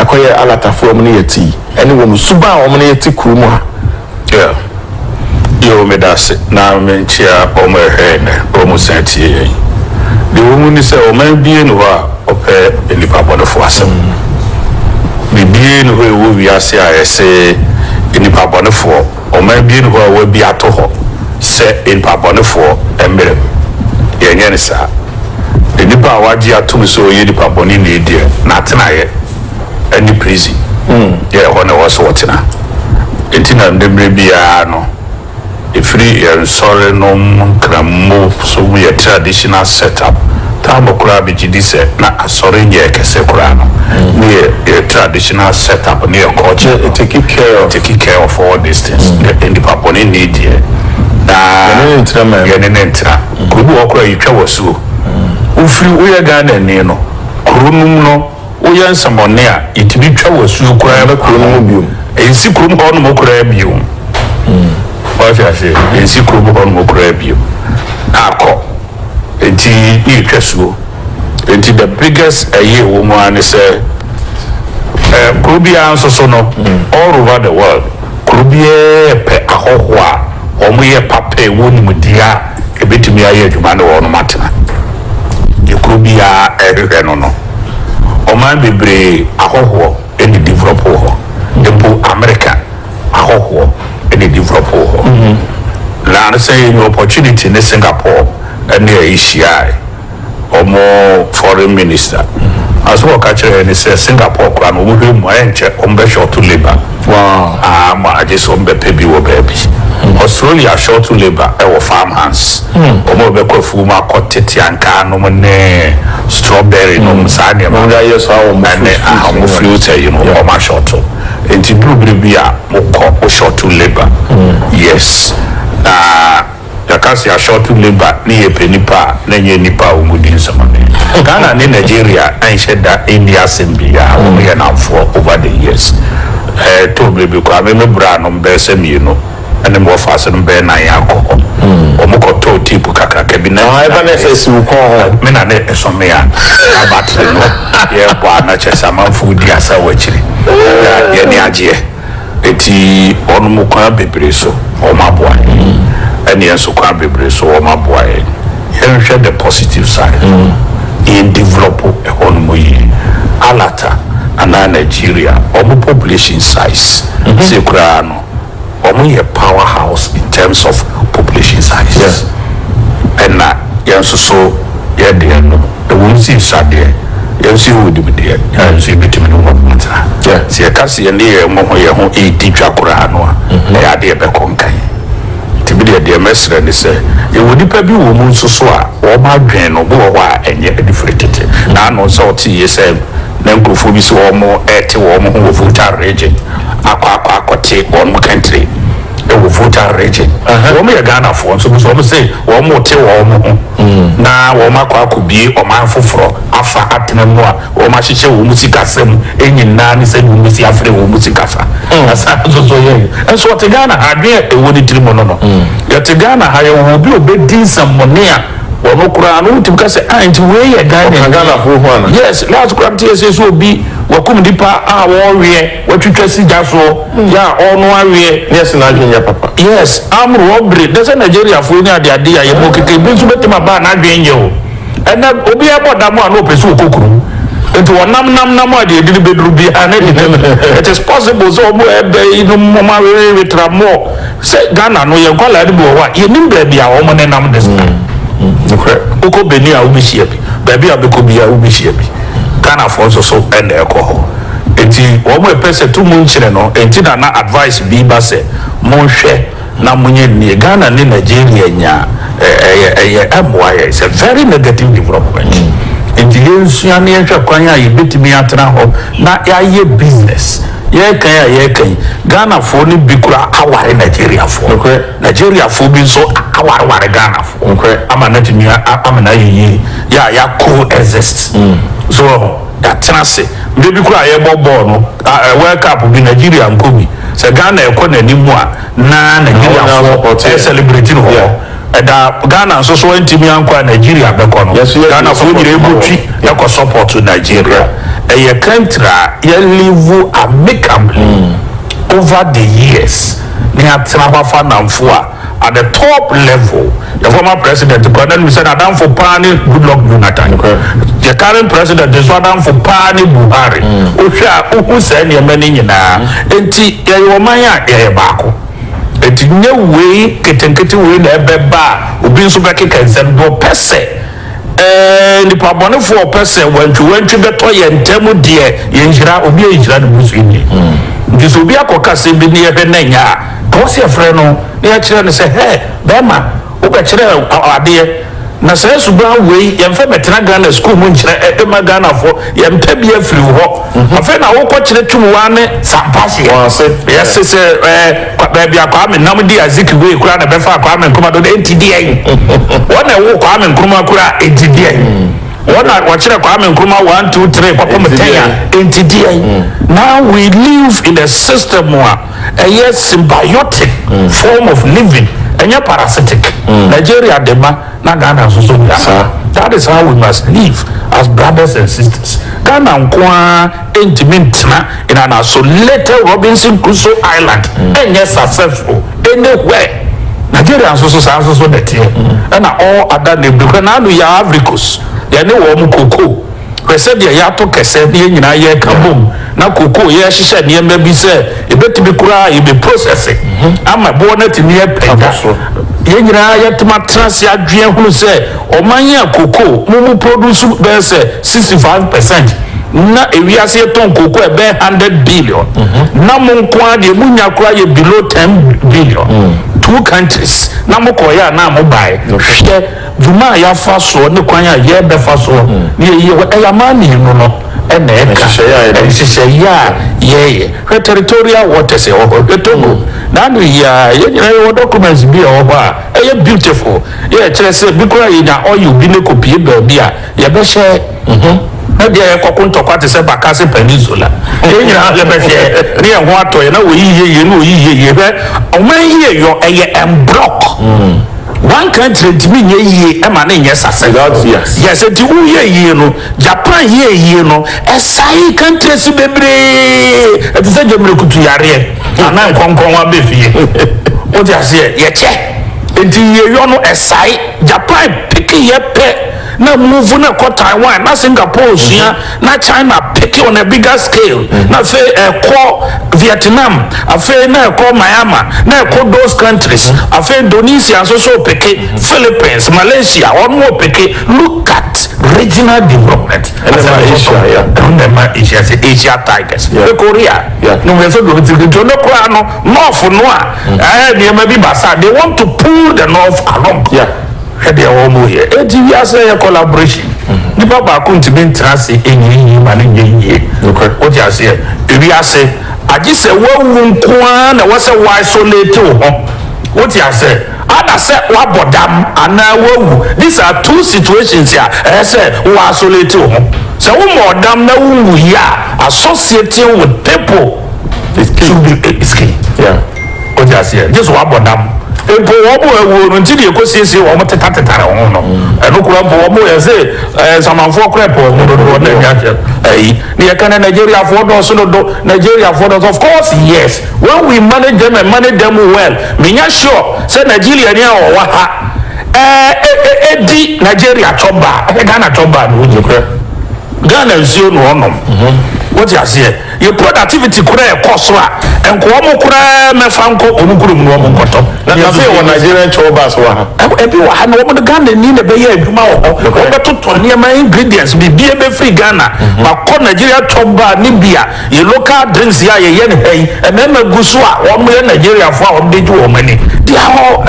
akɔyɛ alatafoɔ ɔmo ne yɛ ti ɛne wɔn suban ɔmo ne yɛ ti kuro mu a. Yoo medase na menkyea wɔn a ɛhwɛɛ nnɛ na wɔn san tie yɛn. Deɛ ɛwɔ mu ne sɛ ɔman biara nni hɔ a ɔpɛ nnipa bɔnefoɔ asɛm. Biribiara nni hɔ a ɛwɔ wiase a ɛse nnipa bɔnefoɔ, ɔman biara nni hɔ a wɔabi ato hɔ sɛ nnipa bɔnefoɔ mmrɛ mu. Yɛnyɛ no saa. Nnipa a wɔagye atom sɛ ɔyɛ nnipa bɔneni deɛ, n'atenaeɛ ne prison yɛ ɛhɔ na ɛwɔ sɛ wɔtena. Enti na nnɛ mmerɛ biara no, ɛfiri yɛn nsɔre nom nkrammo so mu yɛn traditional set up, Tarbor koraa bɛgye di sɛ na asɔre nyɛ kɛse koraa no, ne yɛ yɛn traditional set up ne yɛn culture no taking care of taking care of all these things, yɛ nnipa bɔne nni deɛ na yɛne ne ntena man yɛne ne ntena. Kuro bi wɔ hɔ koraa yɛtwa w'asuo, wofiri woyɛ Ghanani no kuro nom no, Woyɛ nsɛmɔne a, yɛtumi twa wo asuo koraa ba kuro no mu bio. Ɛnsi kurom hɔ nom koraa bio. Woate aseɛ? Ɛnsi kurom hɔ nom koraa bio. Na akɔ. Enti ne yɛtwa asuo. Enti the biggest ɛyɛ ɛwɔ mu ara ne sɛ, kuro biara nso so no, all over the world, Kuro biara pɛ ahɔhoɔ a wɔyɛ papa a ɛwɔ nimdeɛ a ɛbɛtumi ayɛ adwuma ne wɔnom atena. Deɛ kuro biara rehwehwɛ no no. Ɔman bebree ahɔhoɔ na ɛdevelop wɔ hɔ. Mpo Amerika ahɔhoɔ na ɛdevelop wɔ hɔ. Na sɛ yɛnya opportunity ne Singapore ne yɛhyiaae. wɔn foreign minister na so wɔka kyerɛ yɛn sɛ Singapore koraa no wɔhwɛ mu a ɛnkyɛ wɔn bɛ shorto labour aa ma agye sɛ wɔn bɛ pɛ bi wɔ baabi Australia shorto labour ɛwɔ farm hands wɔn a wɔbɛkɔ afuo mu akɔ tete ankaa nom ne strawberry nom saa nneɛma no ɛne aha wɔn fruits ayi no wɔn a shorto nti duru bere bi a wɔkɔ wɔ shorto labour yes na. Yɛka se ashorte labour ne yɛpɛ nipa a na ɛnyɛ nipa a wɔn di nsɛm a. Ghana ne Nigeria anhyɛ da nni asem biaa, wɔn yɛ namfoɔ over the years. Ɛtɔɔ bere bi koraa me me bra nom bɛɛ sɛ mmienu ɛne me wɔfase nom bɛɛ nan akɔ hɔ, wɔn kɔ tɔɔ tip kakraka bi na me na ne me na ne ɛso me a na battery no yɛɛbɔ a na kyerɛ sɛ amanfoɔ di asaw akyiri na yɛani agyeɛ. Enti wɔnom kwan bebree so wɔn aboa yɛn, ɛneɛ nso kwan bebree so wɔn aboa yɛn. Yɛnhwɛ the positive side no mu na yɛn develop ɛhɔnom yie. Alata anaa Nigeria, wɔn population size sei koraa no, wɔn yɛ power house in terms of population size. Ɛna yɛn nso so yɛdeɛ no, ɛwom sɛ ɛsua deɛ. Yɛnso yɛwɔ nimdeɛ a yɛnso yɛbɛtumi ne wɔnom atena. Sɛ yɛka sɛ yɛne yɛn ho yɛn ho redi dwa koraa no a, ɛyɛ adeɛ a ɛbɛkɔ nkan. Nti me deɛ, deɛ mɛsrɛ ne sɛ, yɛwɔ nnipa bi wɔ mu nso so a wɔn adwene no, bi wɔ hɔ a ɛnyɛ ɛde firi tete. Na ano sɛ ɔte yie sɛ na nkurɔfoɔ bi sɛ wɔn rete wɔn ho wɔ Volta Region akɔ akɔ akɔte wɔnom kɛntire wɔ Volta Region. Wɔn yɛ Ghanafoɔ nso bi sɛ wɔn se wɔn rete wɔn ho. na wɔakɔ akɔbue ɔman foforɔ afa atena mu a wɔahyehyɛ wɔn sikasa mu nyinaa ne sɛdeɛ wɔbɛsi afrɛ wɔn sikasa asan nso so yɛ nso ɔte Ghana ha adwene a ɛwɔ ne tiri mu no no yɛte Ghana ha yɛwɔ obi a ɔbɛdi nsɛmmɔne a ɔno koraa no wotumi ka sɛ ah nti wei yɛ Ghanani yes last koraa mete yɛ sɛ sɛ obi wakum nipa a wɔreweɛ Watwitwa sigya soɔ yɛ a ɔɔno aweɛ ne ɛsene adwene nyɛ papa. Yes amro ɔbre dɛ sɛ Nigeria foɔ ni ade ade a yɛ bɔ keke ebi nso bɛtumi aba a n'adwene nyɛ o ɛnɛ obi ɛbɔ dam a na ɔpɛ sɛ ɔkɔ kuro nti ɔnam nam nam a deɛ ɛdini bɛduru biara na ɛde no adu it is possible sɛ ɔmo ɛbɛ yi nom ɔmo awewewe tra mɔɔ sɛ Ghana no yɛ nkwadaa no bi wɔ hɔ a yɛnim baabi a ɔmo ne nam de saa nokorɛ wokɔ Benin a wobɛhyia bi baabi a wobɛkɔ biara wobɛhyia bi Ghana foɔ nso so ɛna ɛkɔ hɔ. Enti wɔn ɛpɛ sɛ to mu nkyene no enti na na advice bi ba sɛ monhwɛ na monyɛ nie Ghana ne Nigeria nya ɛyɛ ɛyɛ ɛmmoa yɛn it's a very negative development enti yɛnsua na yɛnhwɛ kwan a yɛbɛtumi atena hɔ na yɛayɛ business yɛreka yi a yɛreka yi Ghanafoɔ no bi koraa aware Nigeriafoɔ Nigeriafoɔ bi nso awareware Ghanafoɔ ama no atumi amena ayɛ yie yɛ a yɛa co-exist so wɔ ho. yɛatena ase. Berɛ bi koraa a yɛrebɔ bɔɔl no, World Cup bi, Nigeria nkɔ bi, sɛ Ghana rekɔ n'anim a, na Nigeriafoɔ resɛlebreti no wɔ hɔ. Ɛda Ghana nso so antumi ankɔ a Nigeria bɛkɔ no, Ghanafoɔ nyinaa bɔtwi kɔ sɔpɔɔto Nigeria. Ɛyɛ country a yɛlivu amicably over the years, na yɛatena hɔ afa nnamfo a. At the top level yɛ former president koraa na nim sɛ n'adamfo paa ne Goodluck Jonathan. Yɛ current president nso adamfo paa ne Buhari. Wohwɛ a wohu saa nneɛma no nyinaa. Enti yɛyɛ ɔman a yɛyɛ baako. Enti nyɛ wei nketenkete wei na ɛbɛba a obi nso bɛkeka nsɛm. Deɛ ɔpɛ sɛ. Eeh nipa bɔnefoɔ pɛ sɛ wantwiwantwi bɛtɔ yɛn ntɛm deɛ yɛn nhyira obi a nhyira no busu ni nti sɛ obi akɔ ka asɛm bi ne yɛhwɛ na ɛnyɛ a ɛwɔ sɛ yɛfrɛ no na yɛkyerɛ no sɛ hɛ bɛɛma wobɛkyerɛ adeɛ na saa suban wei yɛnfɛ mɛtena Ghana school mu nkyerɛ ɛma Ghanafoɔ yɛmpɛ bi afiri wo hɔ Afei na wokɔ kyerɛ tum waa ne sampaseɛ. Wɔn ase. Yɛse sɛ ɛɛ kwa baabi a Kwame nam di Azikiwe kura na ɛbɛfaa Kwame Nkrumah dodo enti deɛn? Wɔn na ɛwoo Kwame Nkrumah kura enti deɛn? Wɔn na wɔkyerɛ Kwame Nkrumah one two three kɔpem ten a enti deɛn? Now we live in a system a ɛyɛ symbiotic form of living ɛnyɛ parasitic. Nigeria de ma. na Ghana nso so nya saa. That is how we must live as brothers and sisters. Ghana nko ara ntumi ntena in an isolated Robinson Crusoe island nyɛ successful anywhere. Nigeria nso so saa nso so na ɛteɛ ɛna all other neighbouring hwɛ n'ano yi a Ivory Coast yɛne wɔn cocoa. Hwɛ sɛdeɛ yɛatɔ kɛsɛ na yɛn nyinaa yɛreka bom na kookoo yɛrehyehyɛ nneɛma bi sɛ ɛbɛtumi koraa yɛbɛprosɛse ama boɔ no atumi apagya so. Yɛn nyinaa yɛatumi atena ase adwene ahunu sɛ ɔman yi a kookoo mu mu produce bɛyɛ sɛ 65 percent na ewiase yɛtɔn kookoo a ɛbɛyɛ 100 billion na mo nko ara deɛ monya koraa yɛ below 10 billion. Two countries na mokɔeɛ anaa mobaeɛ? Hwɛ. Dwuma a yɛafa soɔ ne kwan a yɛrebɛfa soɔ na yɛyi hɔ, ɛyɛ amanneɛ no no na ɛka nhyehyɛeɛ a yɛreyɛ. Hwɛ Territorial Waters ɛwɔ hɔ, hwɛ Togo. N'ano yi ara, yɛn nyinaa yɛwɔ documents bi a ɛwɔ hɔ a ɛyɛ beautiful, yɛ ɛkyerɛ sɛ bi koraa yɛnya oil bi na ɛkɔpue baabi a, Yɛbɛhyɛ ho na bia yɛkɔko ntɔkwa te sɛ Bakassi Peninsula. Yɛn nyinaa yɛbɛhwɛ na yɛn ho atɔ yɛn na oyi yɛ yie na oyi yɛ yie. Hwɛ, ɔman yi yɛ yɔ, ɛyɛ ɛmbrɔk. Wanka ankyerɛ ntumi nyɛ yie ɛma no nyɛ sasɛ. Without fears. Yes, enti wo yɛ yie no, Japan yɛ yie no, ɛsae countries bebree ɛte sɛ gyamrekutu yareɛ anaa nkɔnkɔn wa bɛ fie. Wote aseɛ? Yɛkyɛ. Enti yɛ yɔ no ɛsae. Japan peke yɛ pɛ. na move no kɔ Taiwan na Singapore nsua na China peke on a bigger scale na afei ɛkɔ Vietnam afei na ɛkɔ Myanmar na ɛkɔ those countries afei Indonesia nso so peke Philippines Malaysia wɔn wɔ peke look at regional development ɛna ɛma Asia ya ɛna ɛma Asia sɛ Asia Tigers ne Korea ne wɔn nso deɛ wɔn ti ne koraa no North no a ɛɛ nneɛma bi ba saa they want to pull the North along. Yeah. Hwɛ deɛ wɔreyɛ. Enti wiase a ɛyɛ collaboration. Nipa baako ntumi ntena ase nyini yie ma no nyɛ yie. Nokorɛ. Wote aseɛ? Ewiase, agye sɛ woawu nko ara na ɛwɔ sɛ wo isolate wo ho. Wote aseɛ? Ana sɛ woabɔ dam anaa woawu. These are two situations a ɛyɛ sɛ wo isolate wo ho. Sɛ wommɔɔ dam na wonwuiɛ a, associating with people is key. Is key. Yeah. Wote aseɛ? Gye sɛ wɔabɔ dam. Mpo wɔn a wɔawuo no, nti deɛ ɛkɔsiesie wɔn, wɔtetatetare wɔn no, ɛno koraa mpo, wɔn yɛ se ɛɛ Samanfoɔ koraa pɛ wɔn dodo, wɔn na ɛnya ayi. Na yɛka no Nigeriafoɔ dɔɔso dodo, Nigeriafoɔ dɔɔso. Of course, yes, when we manage them and manage them well, menya sure sɛ Nigeriani a ɔwɔ ha ɛɛ ɛdi Nigeria cɔbaa, ɛhwɛ Ghana cɔbaa no, wogye korɛ? Ghana nsuo na ɔnom. Wote aseɛ? Yɛ productivity koraa ɛkɔ soro a nka wɔn koraa mɛfa nkɔ wɔn kurom na wɔn nkɔtɔ. Na na afei wɔ Nigerian tour bus wɔ ha. Ebi wɔ ha no wɔn Ghanani na ɛbɛyɛ adwuma wɔ hɔ. Wɔn bɛtotɔ nneɛma ingredients biribi ɛbɛfiri Ghana akɔ Nigeria tour bus ne bi a yɛ local drinks yi a yɛyɛ no ha yi mmarima gu so a wɔn yɛ Nigeriafoɔ a wɔn de gye wɔn ani. They are all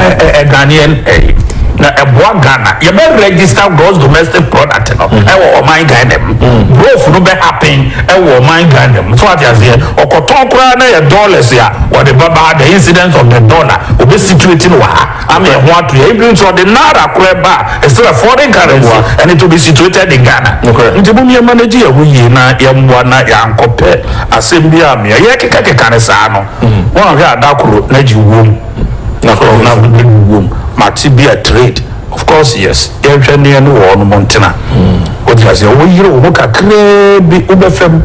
Ghanaian ɛyi na ɛboa Ghana. Yɛbɛ register gross domestic product no ɛwɔ ɔman Ghana mu. Growth no bɛ happen. wɔ ɔman Ghana mu. So wate aseɛ? Ɔkɔtɔn koraa na yɛ dollars a ɔde bɛba ha, the incidence of the dollar, ɔbɛ situate no wɔ ha ama ɛho ato yɛn. Ebinom nso ɔde naira koraa ba a, it's still a foreign currency and it will be situated in Ghana. Nti mom yɛ manage yɛn ho yie na yɛn mmoa na yɛankɔpɛ asɛm bi a mea yɛkeka keka no saa no, woanhwɛ a da koro na gye wom, na koro na wode wom, mate bi a trade. Of course yes yɛnhwɛ ne yɛne wɔn mo ntena wote aseɛ wo yere wo ho kakraa bi wo bɛfa mu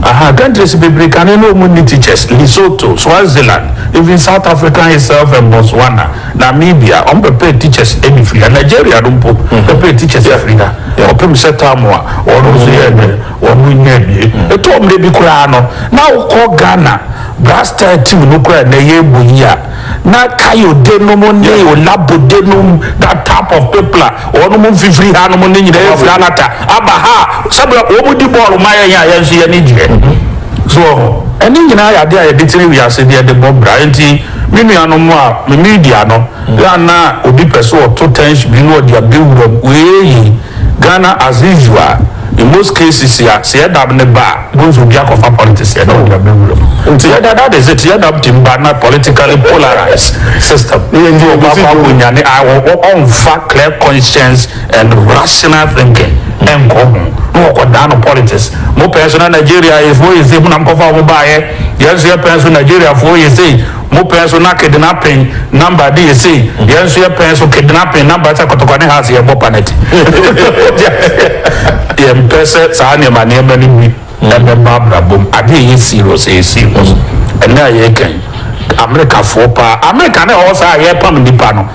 aha countries bebree kane ne wɔn nni teachers Lesotho Swaziland even South Africa itself and Botswana Namibia wɔn bɛpɛ teachers ɛni firi ha Nigeria no mpo bɛpɛ teachers ɛfiri ha wɔpem sɛ term a wɔn nso yɛ ɛnɛ wɔn nnya wie ɛtɔ mmerɛ bi koraa no na wo kɔ Ghana brass star team no koraa ɛnɛ yɛbɔ yi a Na Kayode nom ne Olabode nom that type of people a wɔnom mfifiri ha nom no nyinaa firi Alata aba ha a sɛdeɛ wɔn di bɔɔlo ma yɛn a yɛn nso yɛn ani gyeɛ so wɔ ho ɛne nyinaa yɛ adeɛ a yɛde tene wiase deɛ de bɔ bra nti me nuanom a me media no yɛ a na obi pɛ sɛ ɔto tɛnhye bi na ɔde abɛwura mu wei Ghana as usual in most cases ya sɛ yɛdab no ba a bohu sɛ obi akɔfa politics yɛ na ɔde abɛ wura mu nti yɛda that is it yɛdab team ba na politically polarise system nti ɔkɔ akɔ akɔ nya ne a ɔ ɔnfa clear conscience and rational thinking ɛnkɔ ho na ɔkɔ daa no politics mo pɛɛ so na Nigeria yɛ fo yɛ sei mo na mo kɔfa ɔmo baayɛ yɛn nso yɛ pɛɛ so Nigeria fo yɛ sei Mo pɛn so na kednapen namba de yɛ sei, yɛn nso yɛ pɛn so kednapen namba sɛ kɔtɔkwa ne haase yɛn bɔ panɛt. Wote aseɛ? Yɛn mpɛ sɛ saa nneɛma nneɛma no bi ɛbɛba abrabɔ mu. Adeɛ a ɛyɛ serious, ɛyɛ serious. Ɛnnɛ a yɛreka yi, Amerikafoɔ paa, Amerika ne hɔ saa a yɛrepam nnipa no.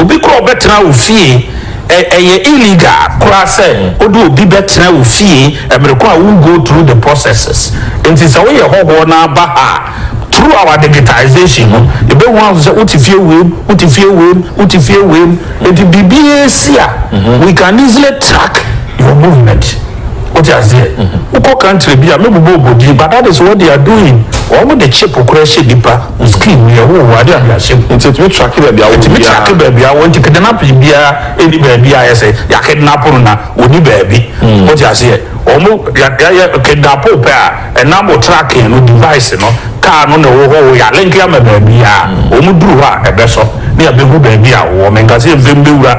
Obi kɔ ɔbɛtena wo fie ɛ ɛyɛ illegal koraa sɛ wode obi bɛtena wo fie ɛmere ko a wo go through the processes nti sɛ woyɛ hɔhoɔ na aba ha a through our digitisation no yɛbɛhu ahu sɛ wote fie wei mu wote fie wei mu wote fie wei mu nti biribiara si a we can easily track your movement wote aseɛ wokɔ country bi a mɛbobɔ obo din but that is what they are doing wɔn de chip koraa hyɛ nipa Wo skin no yɛ wo wo ade a de ahyɛ mu. Nti etumi tracke baabi a wo wɔ biara. Etumi tracke baabi a wo wɔ nti kidnapping biara nni baabi a ayɛ sɛ yɛ kidnap no na onni baabi. Wo te aseɛ? Ɔmo yɛ yɛ yɛ kidnap wo pɛ a ɛnam wo tracking no device no car no na ɛwɔ hɔ o yɛ a link ama baabi a ɔmo duru hɔ a ɛbɛsɔ na yɛ abɛhu baabi a wo wɔ. Menka sɛ yɛ mpɛ mbɛwura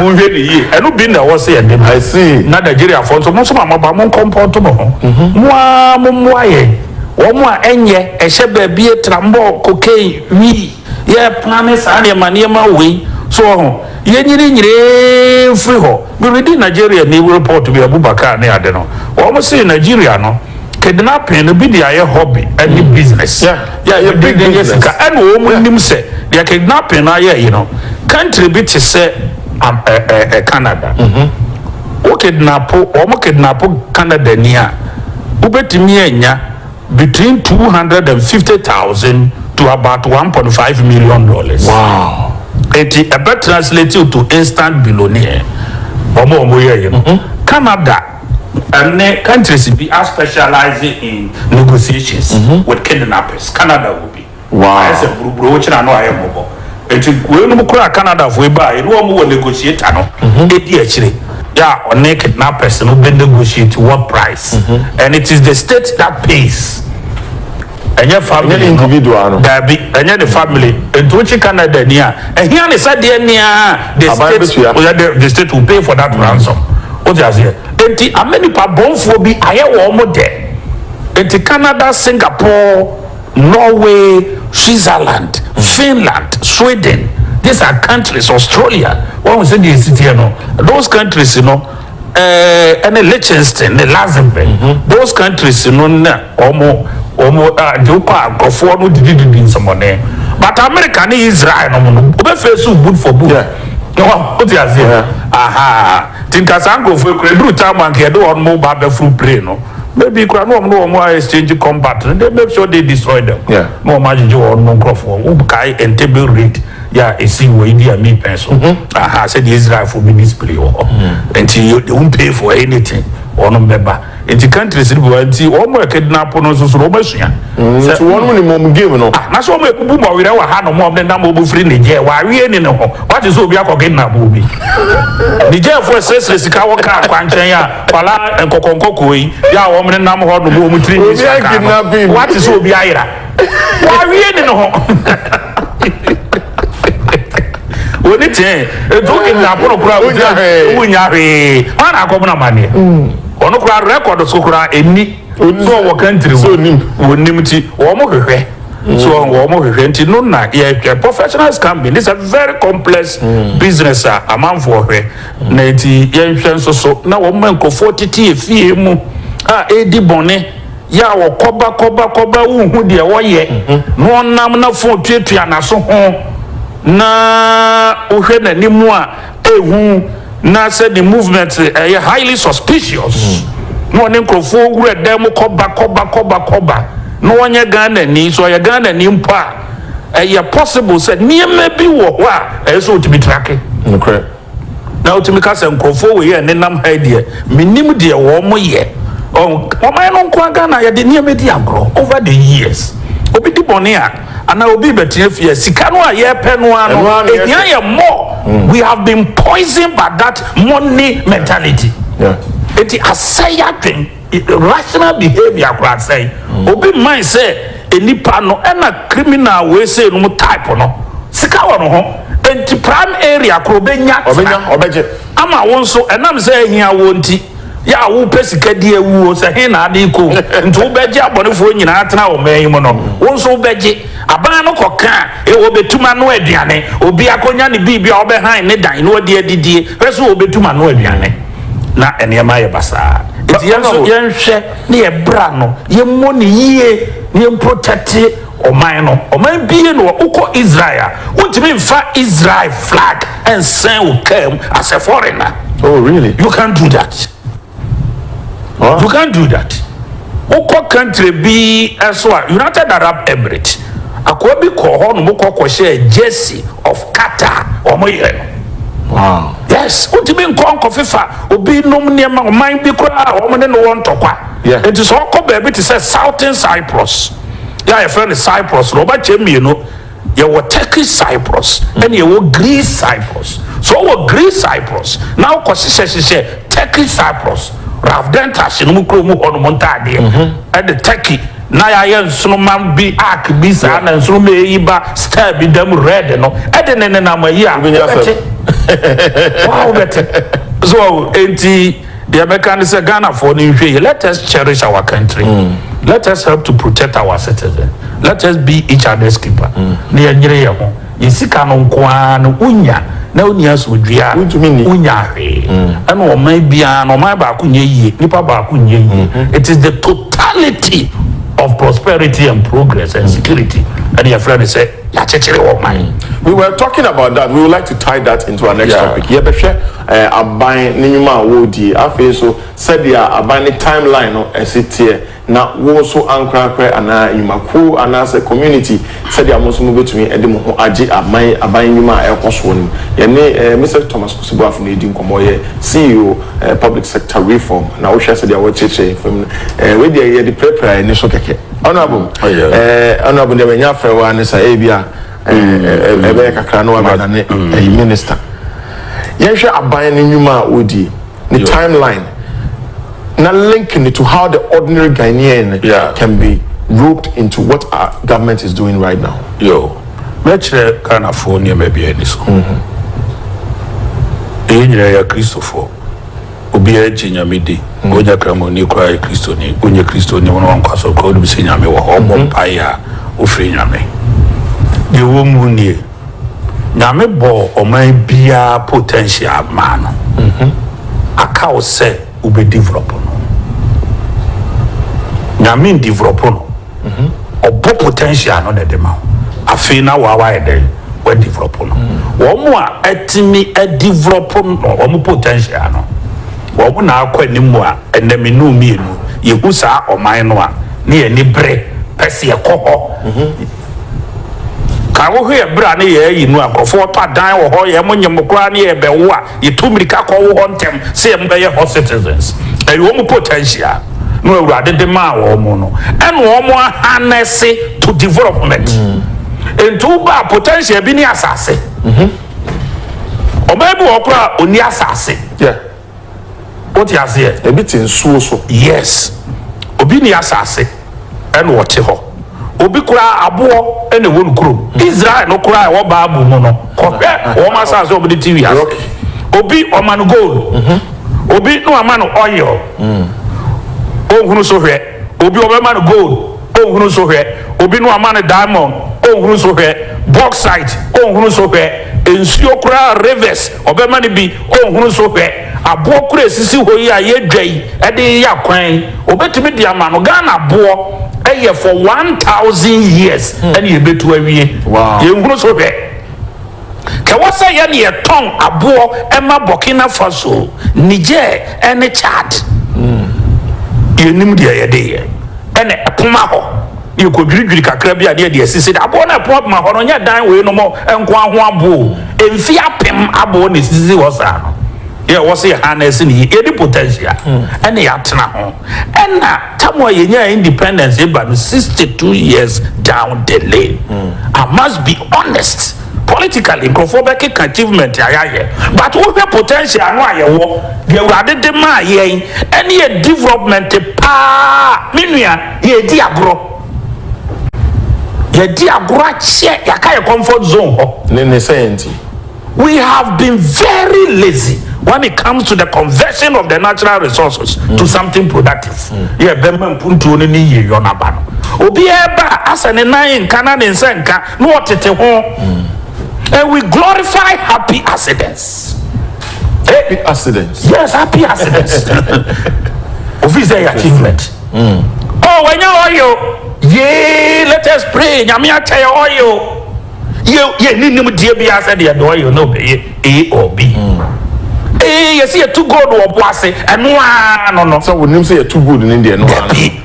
Monhwɛ no yie. Ɛno bi na ɛwɔ sɛ yɛde ma. I see. Na Nigeriafoɔ nso, mo nso ma moaba, mo nkɔmpɔnto mo ho. Mo ara mo mmoa yɛn. Wɔn a ɛnyɛ, ɛhyɛ baabie, trambɔɔ, cocaine, wii, yɛrepra ne saa nneɛma nneɛma wei. So wɔ ho? Yɛnyininyinii mfiri hɔ. Me readi Nigeriani report bi, Abubakar ne ade no, wɔn se Nigeria no, Kidnapping no bi de ayɛ hobby ne business a wɔde de yɛ sika ɛna wɔn nim sɛ deɛ kidnapping no ayɛ yi no country bi te sɛ Canada wo kidnap wɔn kidnap Canada ni a wobɛtumi anya between two hundred and fifty thousand to about one point five million dollars eti ɛbɛ translate to instant billionaire wɔn a wɔyɛ yi no Canada. Ndɛ countries bi a specialise in negotiations with kidnappers, Canada wɔ bi. Ayɛ sɛ brobro wo kyena no ayɛ mmɔbɔ. Enti wei nom koraa Canada foɔ yi baa yɛne wɔn wɔ negotiator no ɛdi akyire yɛ a ɔne kidnappers no bɛ negotiate what price and it is the state that pays. Ɛnyɛ family no. Daabi, ɛnyɛ ne family. Nti wokye Canada ni a, ɛhia ne sɛ deɛ neaa the state yɛ dɛ the state will pay for that ransom. Wote aseɛ? Nti ama nipa bɔnfoɔ bi ayɛ wɔn mo dɛ. Nti Canada, Singapore, Norway, Switzerland, Finland, Sweden, these are countries, Australia, wahu sɛdeɛ ɛsi teɛ no, those countries no. ɛne Liechtenstein ne Luxembourg those countries no na wɔn wɔn ade kɔ a nkurɔfoɔ no didididi nsɛmɔne but America ne Israel no mo no wɔbɛfɛ so wood for wood o ti aseɛ aha ti nka saa nkurɔfoɔ kura eduru time a nka yɛde wɔn mo ba abɛforo plane no maybe kura ne wɔn ne wɔn a exchange combat no they make sure they destroy them na wɔn agyegye wɔn mo nkurɔfoɔ wo kae Entebbe raid. yɛ a esii wɔ Idi Amin pɛn so, aha sɛ deɛ Israelfoɔ bɛ display wɔ hɔ, nti you they won't pay for anything, wɔnom bɛba, nti countries no bi wɔ hɔ, nti wɔn a kidnapo no nso so no wɔn asua sɛ, nti wɔnom nim wɔn game no, ah na sɛ wɔn abubu bɔ werɛ wɔ hanom a wɔn de nam wɔn firi Niger wɔ awie ni ne ho, wate sɛ obi akɔ kidnap obi, Nigerfoɔ ɛsrɛsrɛ sika wɔ car kwankyɛn a kwalaa nkɔkɔnkɔkɔɔ yi yɛ a wɔn nenam hɔ nom wɔn tiri nwi sika kaa no, wate sɛ obi ayera. Wawie ne ne ho. Oni tee etu oke na apono kura wunya hwee wunya hwee hwan na akɔbena amaneɛ ɔno mm. kura rɛkɔd so kura ɛni so ɔwɔ kantiri so wɔnim ti wɔn mo hwehwɛ mm. so wɔn mo hwehwɛ nti no na yɛhwɛ professional scamming this is a very complex mm. business a amanfoɔ hwɛ na nti yɛnhwɛ nso so na wɔn mma nkurɔfoɔ tete efie mu a ɛredi bɔne. Yaw kɔba kɔba kɔba wonhu deɛ wɔyɛ na ɔnam na fon tuatua naso ho na wohwɛ nanim a ehu na sɛ ne movement ɛyɛ highly suspicious na ɔne nkorɔfoɔ wura dan mu kɔba kɔba kɔba kɔba na ɔnyɛ Ghanani sɛ ɔyɛ Ghanani mpo a ɛyɛ possible sɛ nneɛma bi wɔ hɔ a ɛyɛ sɛ ɔtumi tracke. Nokorɛ. na wotumi ka sɛ nkurɔfoɔ wei a ɛnenam ha yi deɛ menim deɛ wɔyɛ. Ɔman no nko ara Ghana yɛde nneɛma di agorɔ over the years. Obi di bɔne a anaa obi rebɛtena fie a sika no a yɛrepɛ no ara no ɛhia yɛ more. We have been poisoned by that money mentality. Enti asɛe yɛn adwene. Irrational behavior koraa sɛn? Obi mmae sɛ nnipa no ɛna criminal wei sei nom type no sika wɔ ne ho nti prime area koraa obɛnya tena ama wo nso ɛnam sɛ ahia woɔ nti yɛ a wopɛ sika di awu o sɛ he na ade rekɔ o nti wobɛgye abɔnefoɔ nyinaa atena ɔman yi mu no wo nso wobɛgye aban no kɔka a e wɔbɛtum anoa aduane obi akɔnya ne biribi a ɔbɛhan ne dan na ɔde adidie hwɛ sɛ wɔbɛtum anoa aduane. na nneɛma ayɛ basaa. Enti yɛn nso yɛnhwɛ na yɛbra no, yɛmmɔ no yie na yɛmprotɛkte ɔman no. Ɔman biara nni hɔ, wokɔ Israel a, wontumi mfa Israel flag nsɛn wo kaa mu as a foreigner. Oh really? You can't do that. Wow. You can't do that. Wokɔ country bi nso a, United Arab Emirates, akoa bi kɔɔ hɔ nom kɔ kɔhyɛɛ jersey of Qatar, wɔn yɛ no. Wow. Yes, wotumi nkɔ nkɔfefa obi nom nneɛma ɔman bi koraa a wɔn ne no wɔ ntɔkwa. Yeah. Nti sɛ ɔkɔ baabi te sɛ Southern Cyprus, yɛ a yɛfrɛ no Cyprus no, ɔbɛkyɛ mmienu. Yɛwɔ Turkish Cyprus, ɛna yɛwɔ Greece Cyprus. So ɔwɔ Greece Cyprus, na wokɔ hyehyɛ hyehyɛ Turkish Cyprus. Ralph Dentach no mu kurom hɔ nom ntaadeɛ, ɛde Turkey na yɛayɛ nsoromma bi ark bi saa na nsoromma yi ba star bi da mu red no ɛde ne nenam ayi a wobɛte waa wobɛte so ɔwo enti deɛ mɛka ne sɛ Ghanafoɔ no nhwɛ yi let us cherish our country mm. let us help to protect our citizen let us be each other's keeper mm. na yɛnyere yɛ ho yɛ sika no nko ara na wonya na wonni asomdwoeɛ a, Wontumi nni. wonnya hwee. Ɛna ɔman biara no, ɔman baako nyɛ yie, nnipa baako nyɛ yie. It is the totality of prosperity and progress and security ɛna yɛfrɛ no sɛ yɛakyekyere ɔman. We were talking about that, we would like to tie that into our next Yeah. topic. Yɛbɛhwɛ eh, aban ne nnwuma a wɔredie. Afei nso, sɛdeɛ aban ne timeline no ɛsi teɛ. na wo nso ankorankorɛ anaa nnwuma kuo anaasɛ community sɛdeɛ mo nso mobɛtumi de mo ho agye aman aban nnwuma a ɛrekɔ soɔ no mu. Yɛne Mister Thomas Kwesi Boafo na ɛredi nkɔmmɔ. Ɔyɛ CEO Public Sector Reform na wohwɛ sɛdeɛ wɔrekyerɛkyerɛ yɛn fam no, wei deɛ yɛde pirapira yɛn ani so kɛkɛ. Honourable, Honourable deɛ manya afrɛ wo ara ne sɛ ebi a ɛbɛyɛ kakra na wabɛdane Minister. Yɛnhwɛ aban no nnwuma a wɔredie. ne timeline na link no to how the ordinary Ghanaian yeah. can be roped into what our government is doing right now. Yo, mɛkyerɛ Ghanafoɔ nneɛma bi ani so. Mm-hmm. Ɛyɛ nyinaa yɛ Kristofoɔ. Obiara gye nyame di. Mm-hmm. Wonya kramoni koraa yɛ Kristoni. Wonyɛ Kristoni wɔn wankwa so koraa wonim sɛ nyame wɔ hɔ. Ɔbɔ mm-hmm. mpaeɛ a wofiri nyame. Deɛ wɔ mu nie. Nyame bɔɔ ɔman biaa potential maa no aka wo sɛ wobɛ develop no Nyame ndevelop no ɔbɔ potential no na ɛde ma wo afei na woa wayɛ dɛn wadevelop no wɔn a atumi adevelop no wɔn potential no wɔn na akɔ anim a ɛnɛ me ne wo mmienu yɛhu saa ɔman no a ne yɛni bere pɛsɛ yɛkɔ hɔ Ka wo ho yɛ bra ne yɛɛyi nu a nkorɔfo wɔtɔ adan wɔ hɔ yɛɛmo nye mo koraa ne yɛɛbɛ wo a yɛtu mirika kɔ wo hɔ ntɛm sɛ yɛɛmo bɛyɛ hɔ citizens ɛyɛ wɔn potential no awurade de maa wɔn no ɛna wɔn ahanɛse to development nti wo baa potential bi ne asase ɔbaa bi wɔ hɔ koraa ɔni asase. Wote aseɛ? Ebi te nsuo so. Yes. Obi nni asase ɛna ɔte hɔ. Obi koraa aboɔ ɛna ɛwɔ no kurom. Israel no koraa ɛwɔ bible mu no, kɔhwɛ wɔn asase a wɔde te wiase. Obi wɔma no gold. Obi ne wɔama no oil. Ɔnhunu so hwɛ. Obi wɔbɛma no gold. o hunu so hwɛ, obi no ama no diamond o hunu so hwɛ, bauxite o hunu so hwɛ, nsuo koraa rivers ɔbɛma no bi o hunu so hwɛ, aboɔ koro ɛsisi hɔ yi a yɛdwa yi de yeyɛ akwan yi ɔbɛtumi de ama no, Ghana aboɔ yɛ for one thousand years ɛna yɛbɛtu awie, yɛnhunu so hwɛ. Ka wɔ sɛ yɛ ne yɛ tɔn aboɔ ma Burkina Faso, Niger ɛne Chad. Yɛ nim deɛ yɛ de yɛ. Ɛna ɛpoma hɔ ne yɛ kɔ dwiri dwiri kakra bi a ne yɛ de asisi de. Aboɔ no a ɛpoma poma hɔ no nyɛ dan wei nom nkoa ho aboɔ o. Ɛmfie apem aboɔ na ɛsisi hɔ saa no. Yɛ wɔ sɛ yɛ ha na ɛsi ne yɛ. Yɛ de potential ɛna yɛ atena ho. Ɛna. Tam a yɛnyaa independence eba no sixty two years down the lane I must be honest politically nkurɔfoɔ bɛkeka achievement a yɛayɛ but wohwɛ potential no a yɛwɔ deɛ Awurade de maa yɛn ɛne yɛ development paa me nua yɛredi agorɔ yɛadi agorɔ akyɛ yɛaka yɛ comfort zone hɔ. Ne ne sɛn nti? We have been very lazy when it comes to the conversion of the natural resources mm. to something productive. Mm. Yeah, bɛma mpuntuo no ne yiyɔ no aba no. Obiara ba asɛ ne nan nka na ne nsa nka na ɔtete ho. Mm. And we glorify happy accidents. Happy eh? accidents. Yes, happy accidents. Ofi sɛ yɛ achievement. Mm. Oh, when you oil, yeah, let us pray. Nyame akyɛ yɛ oil. Yɛ, yɛnni nimdeɛ biara sɛ deɛ deɛ ɔyɛ no ɔbɛyɛ A or B. Ee, yɛse yɛtu gold wɔ po ase, ɛno ara no no. Sɛ wonim sɛ yɛtu gold no deɛ, ɛno ara no. Dabi.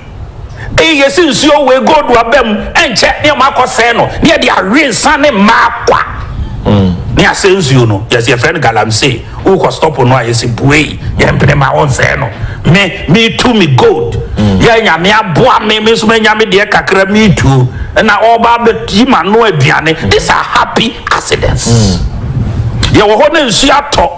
Ee, yɛse nsuo wei gold aba mu, ɛnkyɛ ne yɛma akɔ sɛe no, ne yɛde awe nsa ne mmaa kwa. Ne asɛe nsuo no, yɛse yɛfrɛ no galamsey. Wo kɔ stop no a yɛsi buei yɛ mpene ma wo nsɛɛ no me me tu me gold yɛ nyame aboa me me nso manya me deɛ kakra me tu na ɔba bɛ yi ma no aduane these are happy accidents mm. yɛ wɔ hɔ na nsuo atɔ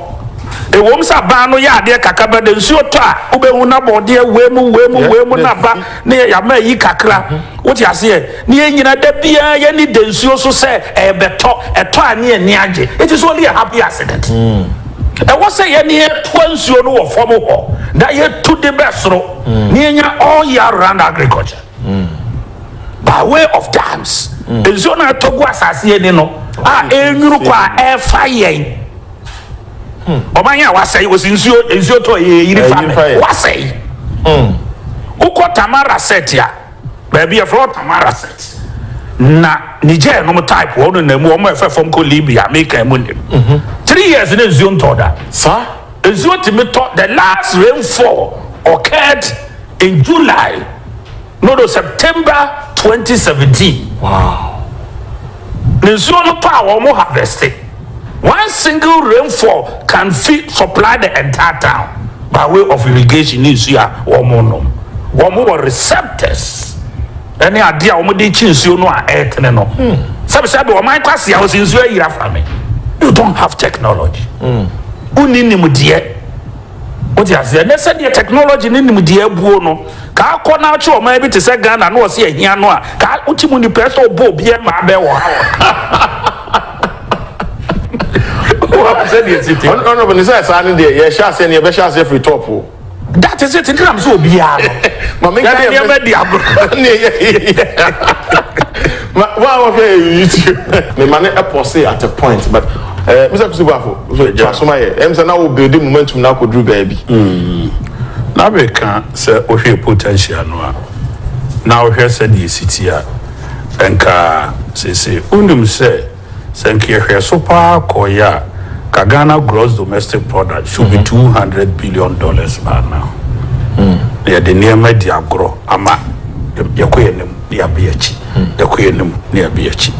ɛwom sɛ abaa no yɛ adeɛ kakra bɛ de nsuo tɔ a wobɛhu na bɔdeɛ wei mu wei mu wei mu na ba ne yɛ yama yi kakra mm-hmm. wote aseɛ Ne yɛn nyinaa da biara yɛn ani da nsuo so sɛ ɛrebɛtɔ, ɛtɔ a ne yɛn ani agye. It is only a happy accident. Ɛwɔ sɛ yɛne yɛtoa nsuo no wɔ fam hɔ na yɛtu de bɛ soro na yɛnya all year round agriculture by way of dams. Nsuo no a ɛtɔ gu asase ani no a ɛrenwunu kɔ a ɛrefa yɛn ɔman a wasɛe wɔsi nsuo nsuo tɔ yɛ yɛyiri fa me wasɛe. Wokɔ Tamara set a. Baabi yɛfrɛ hɔ Tamaracet na Niger nom type hɔ no na mu wɔn ɛfɛ fam kɔ Libya me kan mu nim three years na nsuo ntɔ da saa nsuo tumi tɔ the last rainfall occurred in July no no September twenty seventeen. Nsuo no paa wɔn harveste. One single rainfall can feed, supply the entire town by way of irrigation ne nsuo a wɔnom. Wɔn wɔ receptors ne adeɛ a wɔn de kye nsuo no a ɛretene no. Sɛbi sɛbi wɔn man kwasi a wɔsi nsuo ayiri afa me. You don't have technology. Wonni nimdeɛ. Wote aseɛ? Nɛ sɛdeɛ technology ne nimdeɛ abuo no, kaa kɔ na akye ɔman bi te sɛ Ghana na ɔse ahia no a, kaa wote mu nipa ɛsɛ ɔbɔ obi ɛmaa bɛ wɔ ha wɔ. Sɛdeɛ ɛsi te. Honorable ne sɛ saa ne deɛ yɛhyɛ aseɛ ne yɛbɛhyɛ aseɛ firi top o. That is it, nti nam sɛ obiara no. Mame nka deɛ. Yɛde ɛmɛ di agorɔ. Ma wɔn a wɔhwɛ yɛn YouTube. Me ma no pɔsee at a point but eh, Mister Kusi Boafo, to aso ma yɛ. Ɛm sɛ na wo build momentum na akɔduru baabi. Mm. Na meka sɛ wohwɛ potential no a, na wohwɛ sɛdeɛ ɛsi ti a, nka sese wonim sɛ. Sɛ nka yɛhwɛ so paa kɔ yɛ a, nka Ghana gross domestic product should be two hundred billion dollars by now. Na yɛde nneɛma di agorɔ ama yɛkɔ yɛn anim na yɛaba yɛn akyi, yɛkɔ yɛn anim na yɛaba yɛn akyi.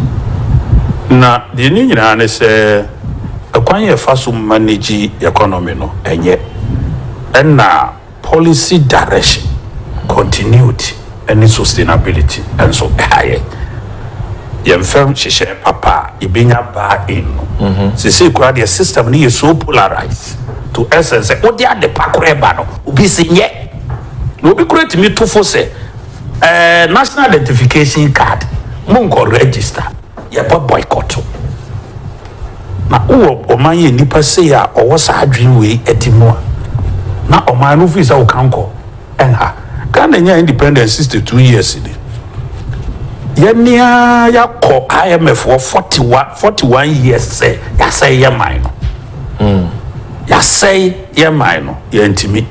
Na deɛ ɛne nyinaa ne sɛ ɛkwan yɛfa so manage economy no ɛnyɛ ɛna. Policy direction, continuity ne sustainability nso ha yɛn. Yɛn fam nhyehyɛɛ papa a yɛbɛnya buy in no, seesei koraa deɛ system no yɛ so polarized to extent sɛ wode ade pa koraa ba no, obi se nyɛ. Na obi koraa tumi to fo sɛ, eh, national identification card, monkɔ register. Yɛbɔ boycott o. Na wowɔ ɔman yi a nnipa sei a ɔwɔ saa adwene wei ɛte mu a, na ɔman no firi sɛ woka nkɔ ɛnha. Ghana nyaa independence 62 years ni. Yɛne ara yɛakɔ IMF wɔ 41, 41 years sɛ yɛasɛe yɛ man no. Yɛasɛe yɛ man no, yɛantumi.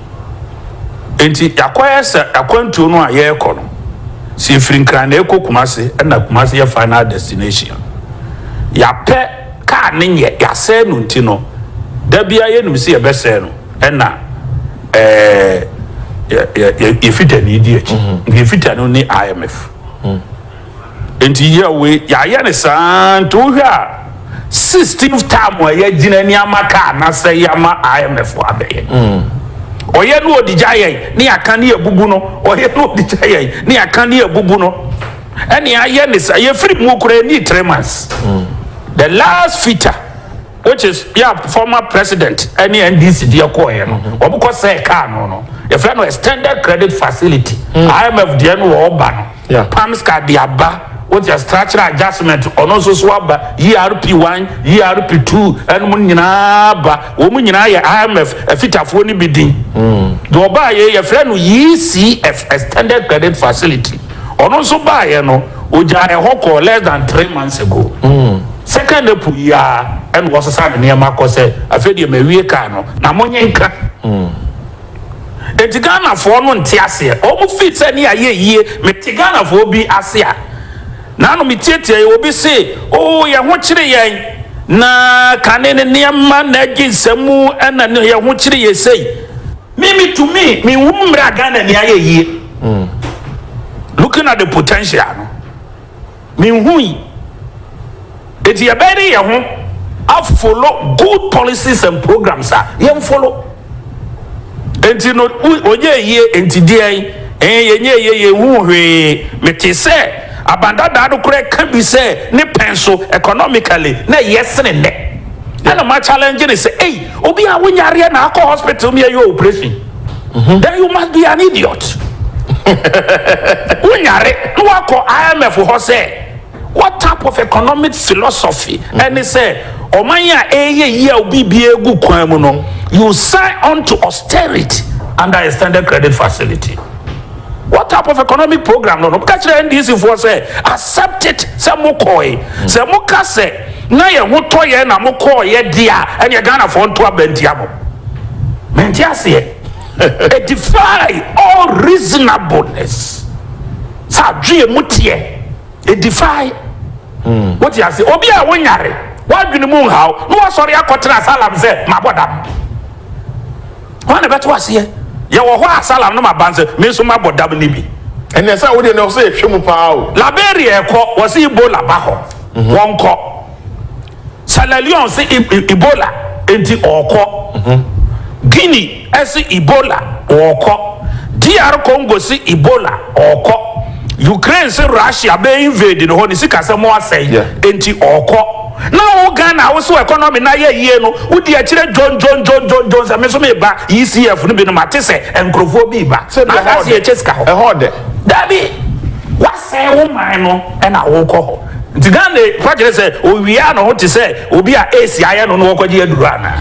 Enti yɛakɔyɛ sɛ akwantuo no a yɛrekɔ no. sɛ ɛfiri Nkran na ɛrekɔ Kumasi ɛna Kumasi yɛ final destination. Yɛapɛ car no nyɛ yɛasɛe no nti no da biara yɛnim sɛ yɛbɛsɛe no ɛna ɛɛ yɛfita ni di akyi. Nka yɛfita no ne IMF. Nti yɛ wei yɛayɛ no saa nti wohwɛ a. 16th term a yɛagyina ni ama ka anasɛ yɛama IMF fo abɛyɛ ɔyɛ ne ɔde gya yɛn ne yɛaka ne yɛbubu no ɔyɛ ne ɔde gya yɛn ne yɛaka ne yɛbubu no ɛne ayɛ ne sa yɛfiri mu kora ɛni three months the last feature which is yɛ former president ɛne NDC deɛ kɔɔyɛ no wɔbɛkɔ sɛ kaa no no yɛfrɛ no extended credit facility IMF deɛ no wɔɔba no Pam sika de aba wote ase structural adjustment ɔno nso so aba ERP one ERP two ɛnum no nyinaa ba wɔn nyinaa yɛ IMF afitafoɔ no bi din deɛ ɔbaa yɛ yɛfrɛ no ECF extended credit facility ɔno nso baa yɛ no ogya ɛhɔ kɔɔ less than three months ago second April yi ara ɛna wɔsesa ne nneɛma kɔ sɛ afei deɛ mawie kaa no na mo nye nka. Enti Ghana foɔ no nte aseɛ ɔmo fii sɛ ne ayɛ yie me te Ghana foɔ bi ase a naano me tiatiaɛ obi se oo yɛ ho kyere yɛn na kane ne nneɛma na agye nsɛm mu ɛna yɛ ho kyere yɛ sei. Me me tumi me hu mmerɛ a Ghana ni ayɛ yie looking at the potential no. Menhui. Enti yɛbɛyɛ ne yɛn ho a follow good policies and programs a yɛn follow. Enti no ɔnyɛ yie enti deɛn ɛɛ yɛnyɛ yie yɛn hu hwee. Mete sɛ abandadaa no koraa ɛka bi sɛ ne pɛn so economically na ɛyɛ sene nnɛ. Ɛna ma challenge ne sɛ ei obi a wonyareɛ na akɔ hospital mi ɛyɛ operation. Then you must be an idiot. Wo nyare na wakɔ IMF hɔ sɛ what type of economic philosophy ɛne sɛ ɔman a ɛɛyɛ yie a obi bia egu kwan mu no you sign on to austerity under extended credit facility. What type of economic program no no ka kyerɛ NDC foɔ sɛ accept it sɛ mo kɔɔe sɛ mo ka sɛ na yɛ ho tɔ yɛ na mo kɔɔ yɛ deɛ a ɛneɛ Ghana foɔ nto aba ntia mo mente aseɛ it defy all reasonableness sɛ adweɛ mu teɛ it defy hmm. wote ase obi a wonyare wadwene mu nhaw na wasɔre akɔtena asalam sɛ mabɔ dam Hwan na ɛbɛto aseɛ? Yɛwɔ hɔ a, Salam no maba nso, me nso mabɔ dam no bi. Ɛnneɛ sɛ wodeɛ no ɔsɛ yɛhwɛ mu paa o. Liberia ɛkɔ wɔse Ebola ba hɔ wɔnkɔ Sierra Leone se Ebola nti ɔɔkɔ Guinea ɛse Ebola ɔɔkɔ DR Congo se Ebola ɔɔkɔ Ukraine se Russia bɛ invade no hɔ ne sikasɛm asɛe nti ɔɔkɔ. Na wo Ghana a wo se wo economy no ayɛ yie no wo di akyire dwondwondwondwondwon sɛ me nso meba ECF no bi no mate sɛ nkurɔfoɔ bi reba na aka sɛ yɛkyɛ sika hɔ. Ɛhɔ ɔdɛ. Dabi! Woasɛe wo man no na wokɔ hɔ. Nti Ghana yi fa kyerɛ sɛ ɔwia ne ho te sɛ obi a aids ayɛ no na ɔrekɔgye aduro anaa?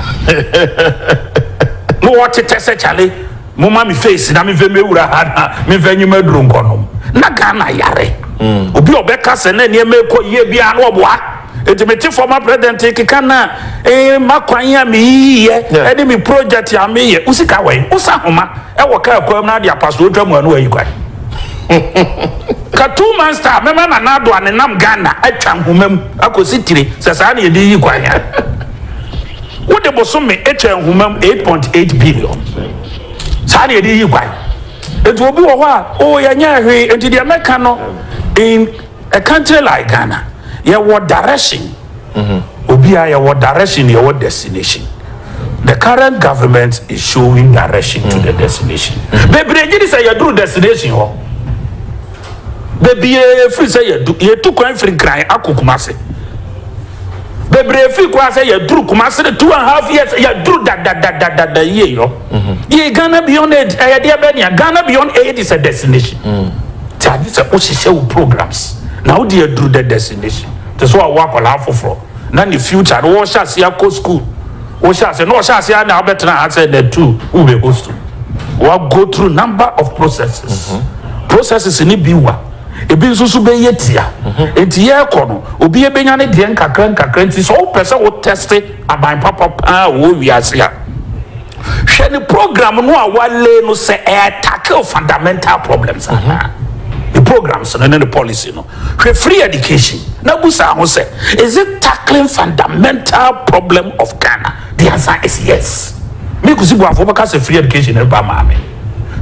Mowɔ tetɛ sɛ kyale. Momma me face na memfa mmɛwura ha na memfa nyi m'aduro nkɔnom. Ná Ghana yare. Obi a ɔbɛka sɛ na nneɛma rekɔ yie biara na ɔboa. Enti mete former president rekeka na eh, m'akwan a meyiyiiɛ ne me project a meyɛ. Wo sika wɔ he? Wosa nhoma wɔ kaa kwan mu na ade apa so wotwa mua na woayi kwan. Ka two months time mɛma Nana Addo a nenam Ghana atwa nhoma mu akɔsi tire sɛ saa na yɛde yiyi kwan a. Wode bosome twa nhoma mu eight point eight billion. Saa na yɛde yi kwan. Nti obi wɔ hɔ a, oh yɛnyɛ hwee. Nti deɛ mɛka no in a country like Ghana, yɛwɔ direction. Obiara yɛwɔ direction, yɛwɔ destination. The current government is showing direction to the destination. Bebree gye di sɛ yɛduru destination hɔ. Bebree firi sɛ yɛadu yɛtu kwan firi Nkran akɔ Kumase. Bebree firi koraa sɛ yɛaduru Kumase no two and half years yɛaduru dadadadadada yie yɔ. Yɛ Ghana Beyond Aid ɛyɛ deɛ bɛn nea Ghana Beyond Aid is a destination. Nti agye sɛ wohyehyɛ wo programs na wode aduru the destination. Te sɛ w'awo akwadaa foforɔ. na ne future no wɔhyɛ aseɛ akɔ school wɔhyɛ aseɛ na wɔhyɛ aseɛ ara na abɛtena ha sɛ na tu wobɛ host wa go through number of processes mhm. processes ne bi wa ebi nso so bɛyɛ tia mhm. nti yɛrekɔ no obi ebɛnya ne deɛ nkakra nkakra nti sɛ wopɛ sɛ wo teste aban papa paa wɔ wiase a Hwɛ ne program no a wale no sɛ ɛyɛ tackle fundamental problems mm-hmm. anaa ne programs no ne ne policy no hwɛ free education na busa ho sɛ is it tackling fundamental problem of ghana the answer is yes me kusi buafo bɛka sɛ free education no ba maame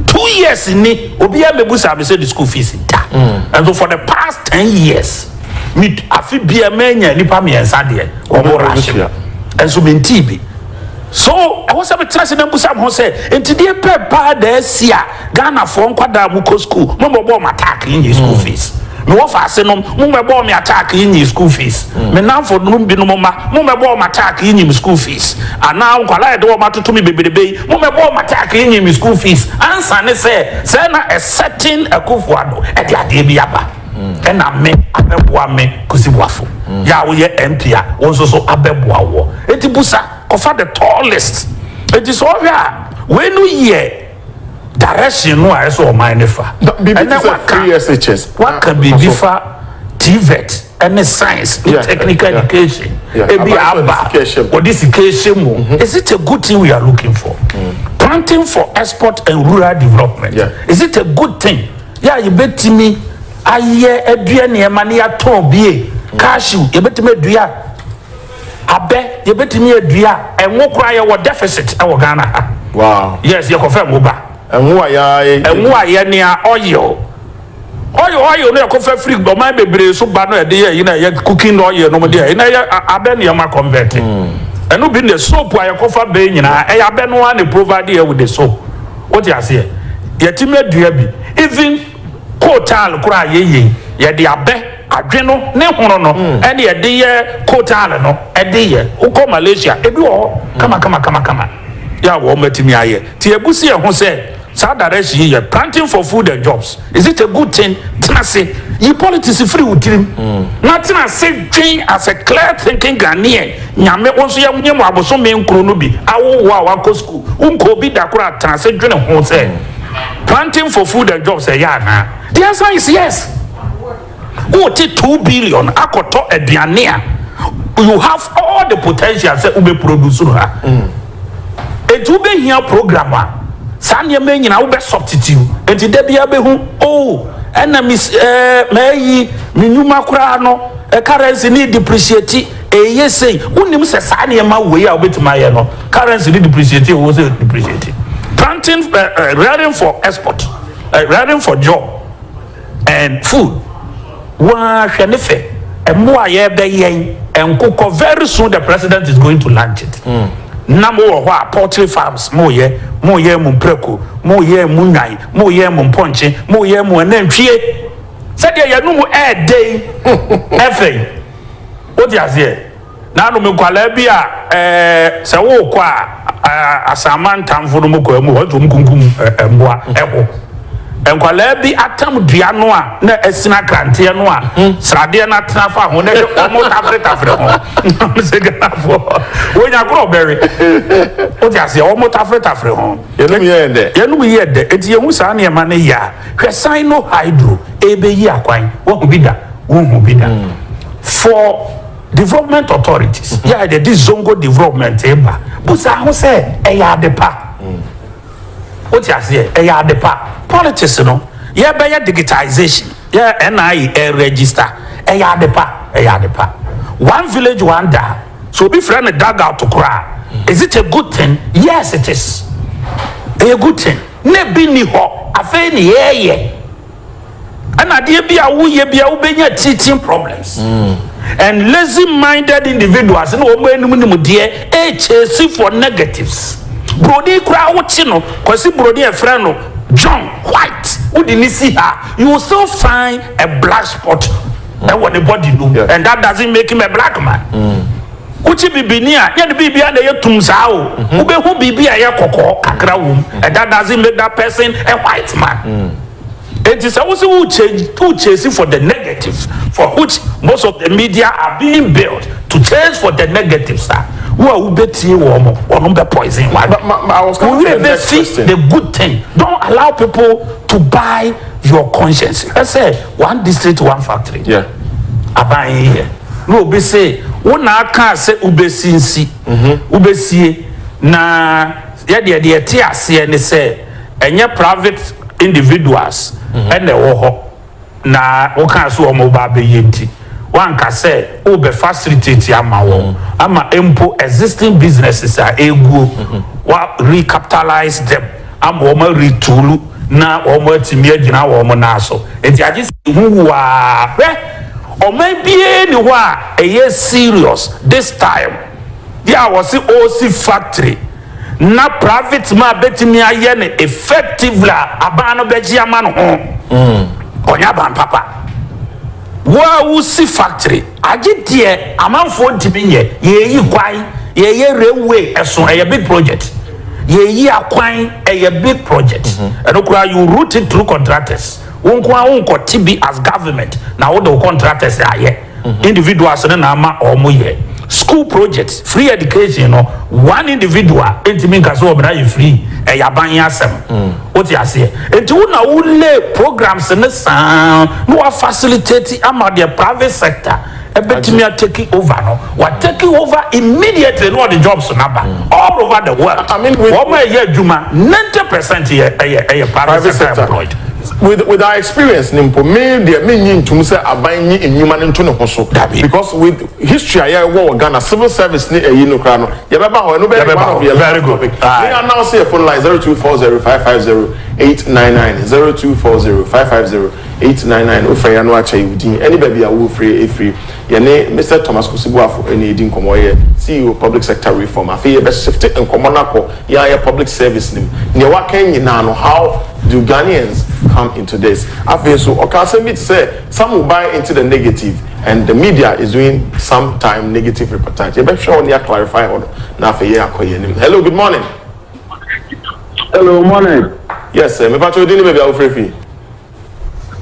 two years ni obiara mɛbusa me sɛ the school fees da mm. and so for the past ten years me afi bia mɛnya nipa mmiɛnsa deɛ wɔn wɔ rahyɛ ɛnso me ntii bi So ɛwɔ sɛ metena ase na mbusa me ho sɛ, enti deɛ pɛ paa da asi a Ghanafoɔ nkwadaa a mokɔ sukuu, mommɛbɔɔ me attack nnyee school fees? Me wɔfaase nom, mommɛbɔɔ me attack nnyee school fees? Me nnamfo nom binom mma, mommɛbɔɔ me attack nnyee me school fees? Anaa nkwadaa a yɛde wɔn atoto me bebrebe yi, mommɛbɔɔ me attack nnyee me school fees? Ansa ne sɛ, sɛɛ na a certain Akufo-Addo de adeɛ bi aba. ɛna me abɛboa me Kusi boafo yɛ a woyɛ MP a wo nso so abɛboa woɔ enti busa kɔfa the tallest enti sɛ ɔhwɛ a wei no yɛ direction no a ɛsɛ ɔman no fa ɛnɛ waka waka biribi fa TVET ɛne science ne technical education ebi a aba wɔde sika ɛhyɛ mu is it a good thing we are looking for planting for export and rural development is it a good thing. Yɛ a yɛbɛtumi ayɛ adua nneɛma na yɛatɔn bi ye, cashew, yɛbɛtumi adua abɛ, yɛbɛtumi adua ɛngo koraa yɛwɔ deficit wɔ Ghana ha. Wow. Yes, yɛkɔfa ɛngo ba. Ɛngo a yɛayɛ. Ɛngo a yɛnoa, oil. Oil oil no yɛkɔfa firi ɔman bebree so ba no a yɛde yɛ yi na ɛyɛ cooking oil nom deɛ ɛna ɛyɛ abɛ nneɛma convert. Ɛno bi ne soap a yɛkɔfa bɛn nyinaa ɛyɛ abɛ no ara na provide yɛ with the soap. Wote aseɛ? Yɛtumi adua bi. Even coal tile koraa a yɛyei, yɛde abɛ, adwe no, ne hono no ɛne yɛde yɛ coal tile no ɛde yɛ. Wokɔ Malaysia, ebi wɔ hɔ kamakamakama yɛ a wɔatumi ayɛ. Nti yɛbu si yɛn ho sɛ saa direction yi yɛ planting for food and jobs. Is it a good thing? Tena ase yi politics firi wo tirim na tena ase dwen as a clear thinking Ghanaian. Nyame wo nso yɛ nyɛ mo abosome nkron no bi. Awo wo a wakɔ school, wo nkɔɔ bi da koraa tena ase dwene ho sɛ planting for food and jobs ɛyɛ anaa? The answer is yes. wote two billion akɔtɔ aduane a you have all the potential sɛ wobɛ produce no ha enti wobɛhia program a saa nneɛma nyinaa wobɛ substitute enti da biara bɛhu oh ɛna mis ɛɛ mɛyi me nnwuma koraa no ɛ currency ne depreciate ɛyɛ sei wonim sɛ saa nneɛma wei a wobɛtumi ayɛ no currency ne depreciate ɛwɔ sɛ depreciate planting uh, uh, rearing for export uh, rearing for job and food waa hwɛ ne fɛ ɛmo a yɛbɛ yɛn nkokɔ very soon the president is going to launch it na mo wɔ hɔ a poultry farms mo yɛ mo yɛ mo mprako mo yɛ mo nwan mo yɛ mo mpɔnkye mo yɛ mo anantwie sɛdeɛ yɛn nom ɛɛdɛ yi ɛfɛ yi o ti aseɛ. Na anom nkwadaa bi a ɛɛ sɛ worekɔ a ɛɛ asamantamfo no mo kɔ amu hɔ nti wɔn kunkum ɛɛ mmoa ɛho. Nkwadaa bi atam dua no a na ɛsini akranteɛ no a sradeɛ no atena fa ho na ɛde wɔn tafere tafere ho. Wɔn sɛ Ghanafoɔ wɔn agorɔ bɛwe. Wote aseɛ wɔn tafere tafere ho. Yɛnum yɛ yɛ dɛ. Yɛnum yɛ yɛ dɛ eti yɛn ho saa nneɛma no yɛ a hwɛ san no hydro ɛbɛyi akwan wɔn ho bi da wɔn ho bi da for. Development Authorities, yɛ a yɛde Zongo Development reba, bu saa ho sɛ ɛyɛ ade pa. Wote aseɛ? Ɛyɛ ade pa. Politics no, yɛrebɛyɛ digitisation, yɛ a NIA reregister, ɛyɛ ade pa, ɛyɛ ade pa. One village, one daa. Sɛ obi frɛ no dugout koraa a, is it a good thing? Yes, it is. Ɛyɛ good thing. Na ebi nni hɔ, afei na yɛreyɛ. ɛna adeɛ bi a woyɛ bi a wobɛnya teaching problems and lazy minded individuals na wɔn anim nimdeɛ ɛkyɛsi for negatives buroni koraa wokye no kwasi buroni ɛfrɛ no john white wode ne si ha you will still find a black spot ɛwɔ ne body no and that doesn't make him a black man mm. Wokyi bibini a, nyɛ ne biribiara na ɛyɛ tumm saa o. Wobɛhu biribi a ɛyɛ kɔkɔɔ kakra wom. That doesn't make that person a white man. Enti sɛ wose wo chase for the negative for which most of the media are being built to chase for the negatives a, wo a wobɛtie wɔn no, wɔn bɛ poison w'adwene. Wo werɛ bɛfi the good thing. Don't allow people to buy. your conscience hwɛ sɛ one district one factory yeah. aban yi yɛ na obi se wo na aka sɛ wobɛsi nsi mhm. wobɛsie na yɛdeɛ deɛ ɛte aseɛ ne sɛ ɛnyɛ private individuals mhm. ɛna ɛwɔ hɔ na wokaa so wɔn ba abɛyɛ nti wanka sɛ wobɛ facilitate ama wɔn mhm. ama mpo existing businesses a ɛguo wa recapitalize them ama wɔn aretuuru na wɔn atumi agyina wɔn nan so. Nti agye sɛ ehu wu aa. Hwɛ, ɔman biara nni hɔ a ɛyɛ serious this time deɛ a wɔse ɔresi factory na private man bɛtumi ayɛ no effectively a aban no bɛgye ama no ho. Ɔnyɛ aban papa. Wo a wosi factory. Agye deɛ amanfoɔ ntumi nyɛ, yɛreyi kwan, yɛreyɛ railway ɛso, ɛyɛ big project, yɛreyi akwan, ɛyɛ big project, ɛno koraa you route it through contractors, wo nko ara wonkɔ te bi as government na wode wo contractors ayɛ, individuals no na ama wɔyɛ. School project, free education no one individual ntumi nka sɛ wɔn ayɛ free, ɛyɛ aban yi asɛm. Wote aseɛ? Enti wo na wo lay programmes no saa na wa facilitate ama deɛ private sector ɛbɛtumi a take over no, wa take over immediately na ɔde jobs no aba all over the world. I mean, with- Wɔn a ɛyɛ adwuma, 90 percent yɛ ɛyɛ ɛyɛ private private sector sector employed. with with our experience ni mpo me deɛ me nyi ntum sɛ aban nyi nnwuma no nto ne ho so Dabi. because with History a yɛ wɔ wɔ Ghana civil service ne ɛyi no koraa no yɛ bɛ ba hɔ ɛno bɛ yɛ one of yɛ last topic me yɛ announce yɛ phone line zero two four zero five five zero eight nine nine zero two four zero five five zero eight nine nine wo frɛ yɛ no akyɛ yɛ wo din ɛne baabi a wo firi ɛfiri yɛ ne Mister Thomas Kosi Boafo ɛna ɛdi nkɔmɔ ɔyɛ CEO public sector reform afei yɛ bɛ shifte nkɔmɔ no akɔ yɛ a yɛ public service no mu neɛ wa kɛn nyinaa no how do Ghanaians come into this afei nso ɔka asɛm bi te sɛ. Some will buy into the negative and the media is doing some time negative reportage. Yɛbɛ hwɛ hɔ ne yɛ clarify hɔ no na afei yɛ akɔ yɛ anim. Hello, good morning. Hello, morning. Yes, sir. Me pa cho di ni baby a ofre fi.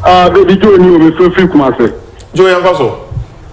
Ah, baby Joe ni o me fre fri kuma se. Joe yan kwa so.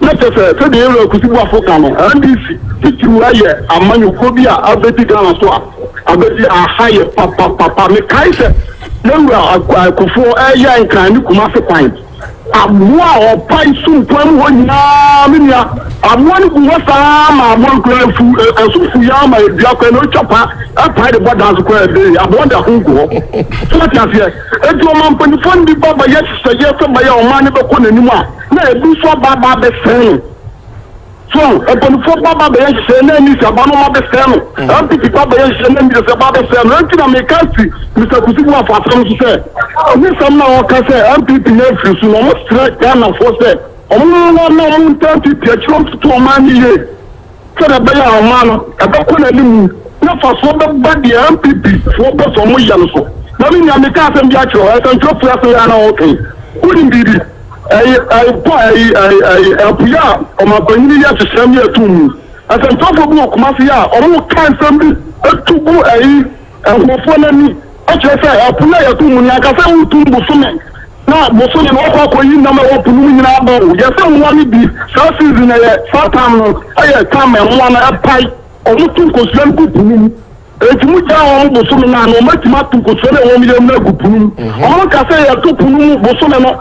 Na kyerɛ sɛ, sɛdeɛ yɛn Wura Kusi Boafo ka no, NDC titiriw ayɛ amanyɔkuo bi a abɛdi Ghana so a abɛdi aha yɛ papapapa. Mekae sɛ yɛn Wura Akuae Kufuor reyɛ Nkran ne Kumasi kwan, aboa a ɔpae sumpɔn mu hɔ nyinaa, me nua, aboa no gu hɔ saa ara ma aboa no koraa afu, ɛso fu yi ara ma ɛdua koraa na ɔtwa pa pae de bɔ dan so koraa ɛbee, aboa no de ahon gu hɔ. So wote aseɛ? Enti ɔmampanifoɔ no bi ba bɛyɛ nhyehyɛeɛ sɛ bɛyɛ ɔman no bɛkɔ n'anim a, Na abusuafo ba ba abɛsɛe no. So mpanyinfoɔ ba ba bɛyɛ nhyehyɛɛ na Anita ba no ma bɛsɛe no. Ampiti ba bɛyɛ nhyehyɛɛ na Miresa ba bɛsɛe no. Ɛnti na meka si Mister Kusi Buafo asɛm so sɛ, ne sɛm na ɔka sɛ NPP no afiri so no, ɔmo srɛ Ghanafoɔ sɛ ɔmo mmoa na ɔmo ntaa NPP akyiri ɔntoto ɔman no yie. sɛdeɛ ɛbɛyɛ a ɔman no ɛbɛkɔ n'anim na mfasoɔ bɛba deɛ NPP foɔ pɛ sɛ wɔyɛ no so. Maame Nyan, meka asɛm bi akyerɛ wo, nsɛntwerɛfoɔ ase yɛ a na wɔretwɛn. Wonim biribi? Ɛyi, ɛyi, pɔ, ɛyi, ɛyi, ɛyi, apue a ɔmanpanyin yi ahyehyɛ ne ato mu. Nsɛntwerɛfoɔ bi wɔ Kumasi a wɔreka nsɛm bi to gu ɛyi. Nkurɔfoɔ no ani, kyerɛ sɛ, ɛpo no a yɛto mu no, anka sɛ wotum bosome, na bosome no wɔkɔ akɔyi nnam a ɛwɔ po no mu nyina aba o, yɛ sɛ mmoa no bi, saa season no yɛ, saa time no yɛ time a mmoa no ɛpae, wɔn to nkosua no gu po no mu, enti mo gyaa wɔn bosome no a, na wɔn atumi ato nkosua no a ɛwɔ wɔn yam no agu po no mu, wɔn nka sɛ yɛto po no mu bosome no.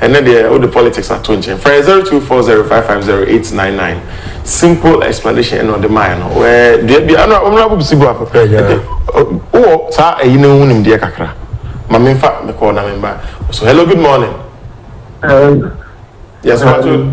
Ɛnnɛ deɛ wode politics ato nkyɛn. Frɛ 0240550899 simple explanation ɛna ɔde maaɛ no wɛ deɛ bi ano ɔmena bob si bo afo ɛde wowɔ saa ɛyi no ho nimdeɛ kakra ma memfa mekɔɔ na memba so hello good morning uh, yes, uh,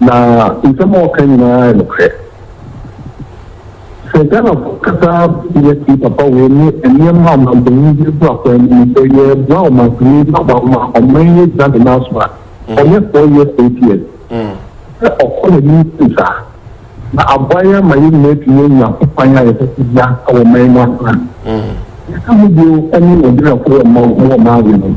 Na nsɛm a ɔka nyinaa yɛ nokorɛ. Sɛ Ghanafoɔ kasa bia tie papa wei ne nneɛma a ɔmanpanin de agu akwan mu no, sɛ yɛboa ɔmanpanin na wama ɔman yi agyina ne nan so a, ɔnyɛ four years, eight years. Sɛ ɔkɔ n'anim sei saa, na aboa yɛn ama yɛn nyinaa atumi anya hokwan a yɛpɛ sɛ yɛnya wɔ ɔman mu atena. Deɛ ɛka ho bio ne Nigeriafoɔ wɔ mma wɔ mma awe no.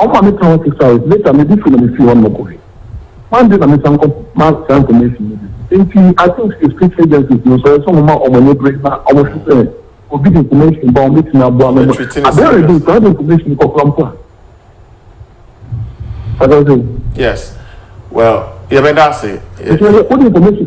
Ɔma me tɔn sesae, later medi firi na mefiri hɔnom kɔe. Kwan de na mesan kɔma saa information no bio. Enti I think sɛ state agencies no nso ɛyɛ sɛ wɔma wɔn ani bere na wɔhwɛ sɛ obi de information ba a wɔbɛtumi aboa no ma adeɛ redi nti wode information kɔkora mpo a. Wate aseɛ? Yes, well yɛbɛda ase. Nti wode information.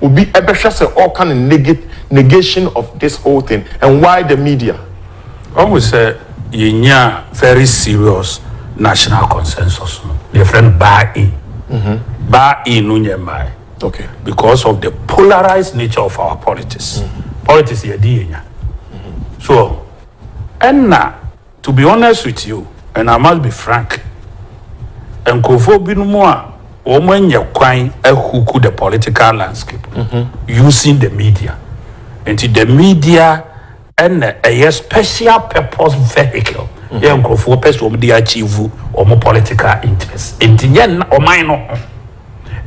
Obi bɛhwɛ sɛ ɔreka no neg negation of this whole thing and why the media? Wahu sɛ yɛnyaa very serious national consensus no, deɛ yɛfrɛ no buy-in. Buy-in no nyɛ mmaeɛ Okay. because of the polarised nature of our politics. Politics yɛde yɛnya. So ɛnna To be honest with you and I must be frank nkurɔfoɔ binom a wɔn anya kwan ahuku the political landscape using the media nti the media ɛna ɛyɛ special purpose vehicle yɛ nkurɔfoɔ pɛ sɛ wɔn de achieve wɔn political interest nti nyɛ nna ɔman no ho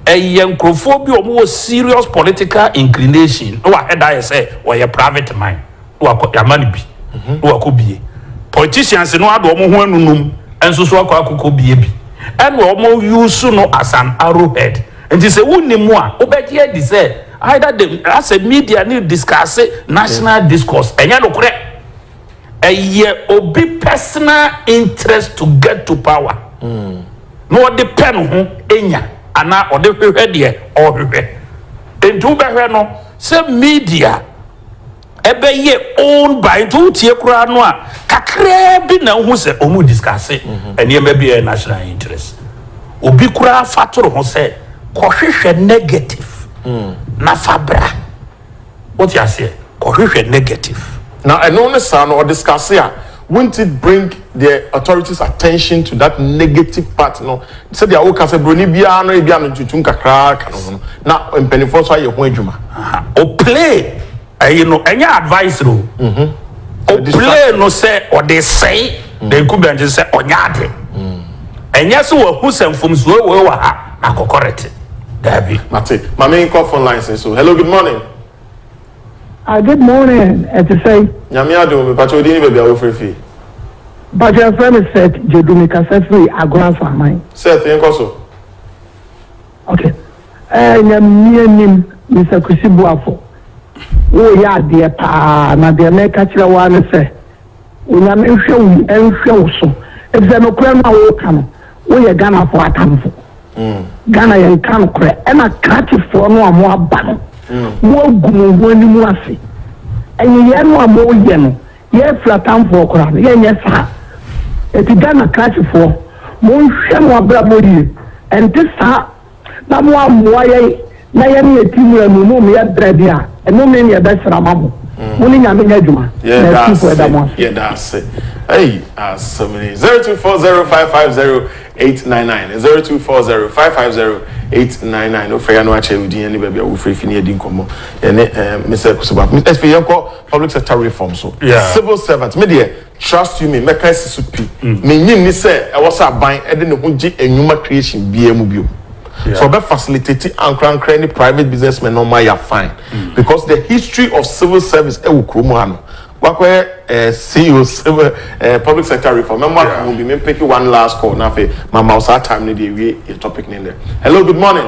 ɛyɛ nkurɔfoɔ bi a wɔn wɔ serious political inclination na wɔahɛda ayɛ sɛ wɔyɛ private man. na wakɔ yama no bi na wakɔ bie politicians no ade wɔn ho anunum nso so akɔ akɔkɔ bie bi ɛna wɔn use no as an arrow head nti sɛ wonni mu a wobɛgye adi sɛ either the asɛ media ne discuss national discourse ɛnyɛ nokorɛ ɛyɛ obi personal interest to get to power na ɔde pɛ no ho enya anaa ɔde hwehwɛ deɛ ɔhwehwɛ nti wobɛhwɛ no sɛ media. ɛbɛyɛ own by nti wotie koraa no a kakraa bi na wohu sɛ wɔn discusse nneɛma bi ɛyɛ national interest obi koraa fa toro ho sɛ kɔhwehwɛ negative na fa bra wote aseɛ kɔhwehwɛ negative na ɛno ne saa no ɔdiscusse a Wouldn't it bring the authorities attention to that negative part no sɛdeɛ woka sɛ broni biara no ebia no ntutum kakraa ka no ho no na mpanyinfoɔ nso ayɛ ho adwuma. O play ɛyi no ɛnyɛ advice no o play no sɛ ɔde sɛe the incumbent no sɛ ɔnyɛ ade ɛnyɛ sɛ wahu sɛ mfomsoɔ wei wɔ ha na akɔ correct daabi. Mate. Mame nkɔ phone lines nso. Hello good morning. Ah good morning ɛte sɛn. Nyame adom mepakyɛw din ne baabi a wo firi fii. Mpakyɛ yɛfrɛ me Seth Djedu me kasa firi Agoransah aman. Seth yɛnkɔ so. Ok ɛɛ nyamea nim Mister Kwesi Boafo wo yɛ adeɛ paa na deɛ mɛka kyerɛ wo ara ne sɛ Onyame nhwɛ wo yi nhwɛ wo so efisɛ nokorɛ no a woka no woyɛ Ghanafoɔ atamfo. Ghana yɛnka nokorɛ ɛna krakyefoɔ no a mo aba no mo agu mo ho anim ase ɛnyeyɛɛ no a moyɛ no yɛfrɛ atamfoɔ koraa no yɛnyɛ saa enti Ghana krakyefoɔ monhwɛ mo abrabɔ yie ɛnte saa na moammoa yɛn na yɛne yɛn ti mu anunu mmea brɛ de a, nnome ne ɛbɛsra ma mo. Mm. Mo ne Nyame nyɛ adwuma, na atumfo ɛda mo ase. Yɛda ase. Hey, asɛm ni. 0240550899, 0240550899. Wofrɛ yɛ no akyerɛ wo din ne baabi a wofrɛ fi ne yɛdi nkɔmmɔ. Yɛne eh, Mr. Kusuba. Ɛsɛ yɛnkɔ public sector reform so. Yeah. Civil servant. Me deɛ, Trust you me, mɛka asi so pi, minnye nni sɛ ɛwɔ sɛ aban de ne ho gye nnwuma creation biara mu bio. Sɛ ɔbɛ facilitati ankorankora ne private businessmen na ɔmo ayɛ a fine, because the history of civil service ɛwɔ kurom ha no, wakɔyɛ eh CEO civil eh public sector reform, mɛmo ato ho bi, me mpeke one last call na afei ma ma wo saa time no de awie yɛ topic no nnɛ. Hello, good morning.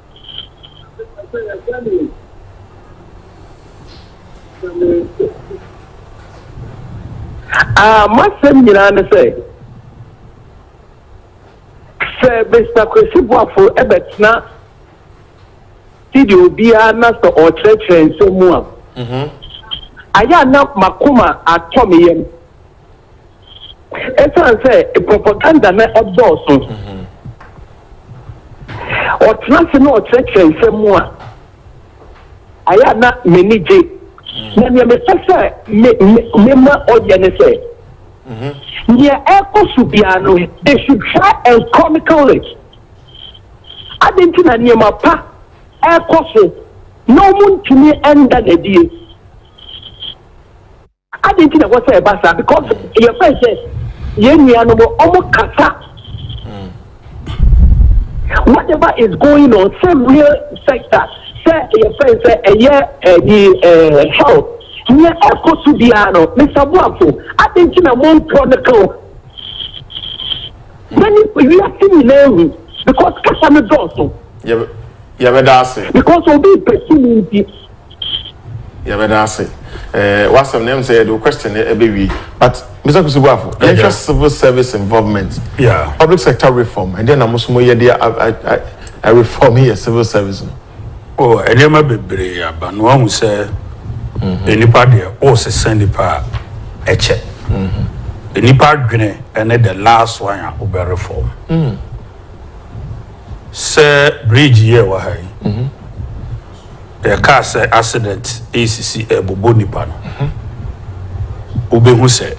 Ah, m'asɛm nyinaa ne sɛ, sɛ Mister Kwesi Boafo bɛtena studio biara na sɛ ɔrekyerɛkyerɛ nsɛm mu a, mhm. ayɛ a na m'akoma atɔ me yam. Ɛsiane sɛ propaganda na ɛdɔɔso, ɔtena ase na ɔkyerɛkyerɛ nsɛm mu a, ayɛ a na m'ani gye. Na nea mepɛ sɛ me me mema ɔyɛ ne sɛ, nea ɛrekɔ so biara no, they should try and chronicle it. Adɛn nti na nneɛma pa ɛrekɔ so na wɔntumi nda no adie? Adɛn nti na ɛwɔ sɛ ɛba saa? Because yɛfɛn sɛ yɛn nuanom wɔn kasa. Mm. Whatever is going on, sɛ real sector, sɛ yɛfɛn sɛ ɛyɛ ɛyi ɛɛ health, nyɛ ɛkɔ so biara no, Mr. Boafo, adɛn nti na mo mpɔ ne kan? Na ni wiase nyinaa hu because kasa no dɔɔso. Yɛ yɛbɛda ase. Because obi pɛsi mu nti. Yɛbɛda ase ɛɛ w'asɛm na ɛmu sɛ yɛde o question na ɛbɛwie but Mr Kwesi Boafo yɛnhwɛ civil service involvement yeah. public sector reform ɛdeɛ na mo so mo yɛ de a reform yɛ civil service no. o oh, nneɛma bebree aba no wahu sɛ mhm. nipa deɛ o sesa nipa a ɛkyɛ mhm. nipa adwene ɛne the last one a wobɛ reform mm. sɛ bridge yɛ wɔ ha yi. Mhm. Yɛkaa sɛ accident resisi rebobɔ nnipa no, wobɛhu sɛ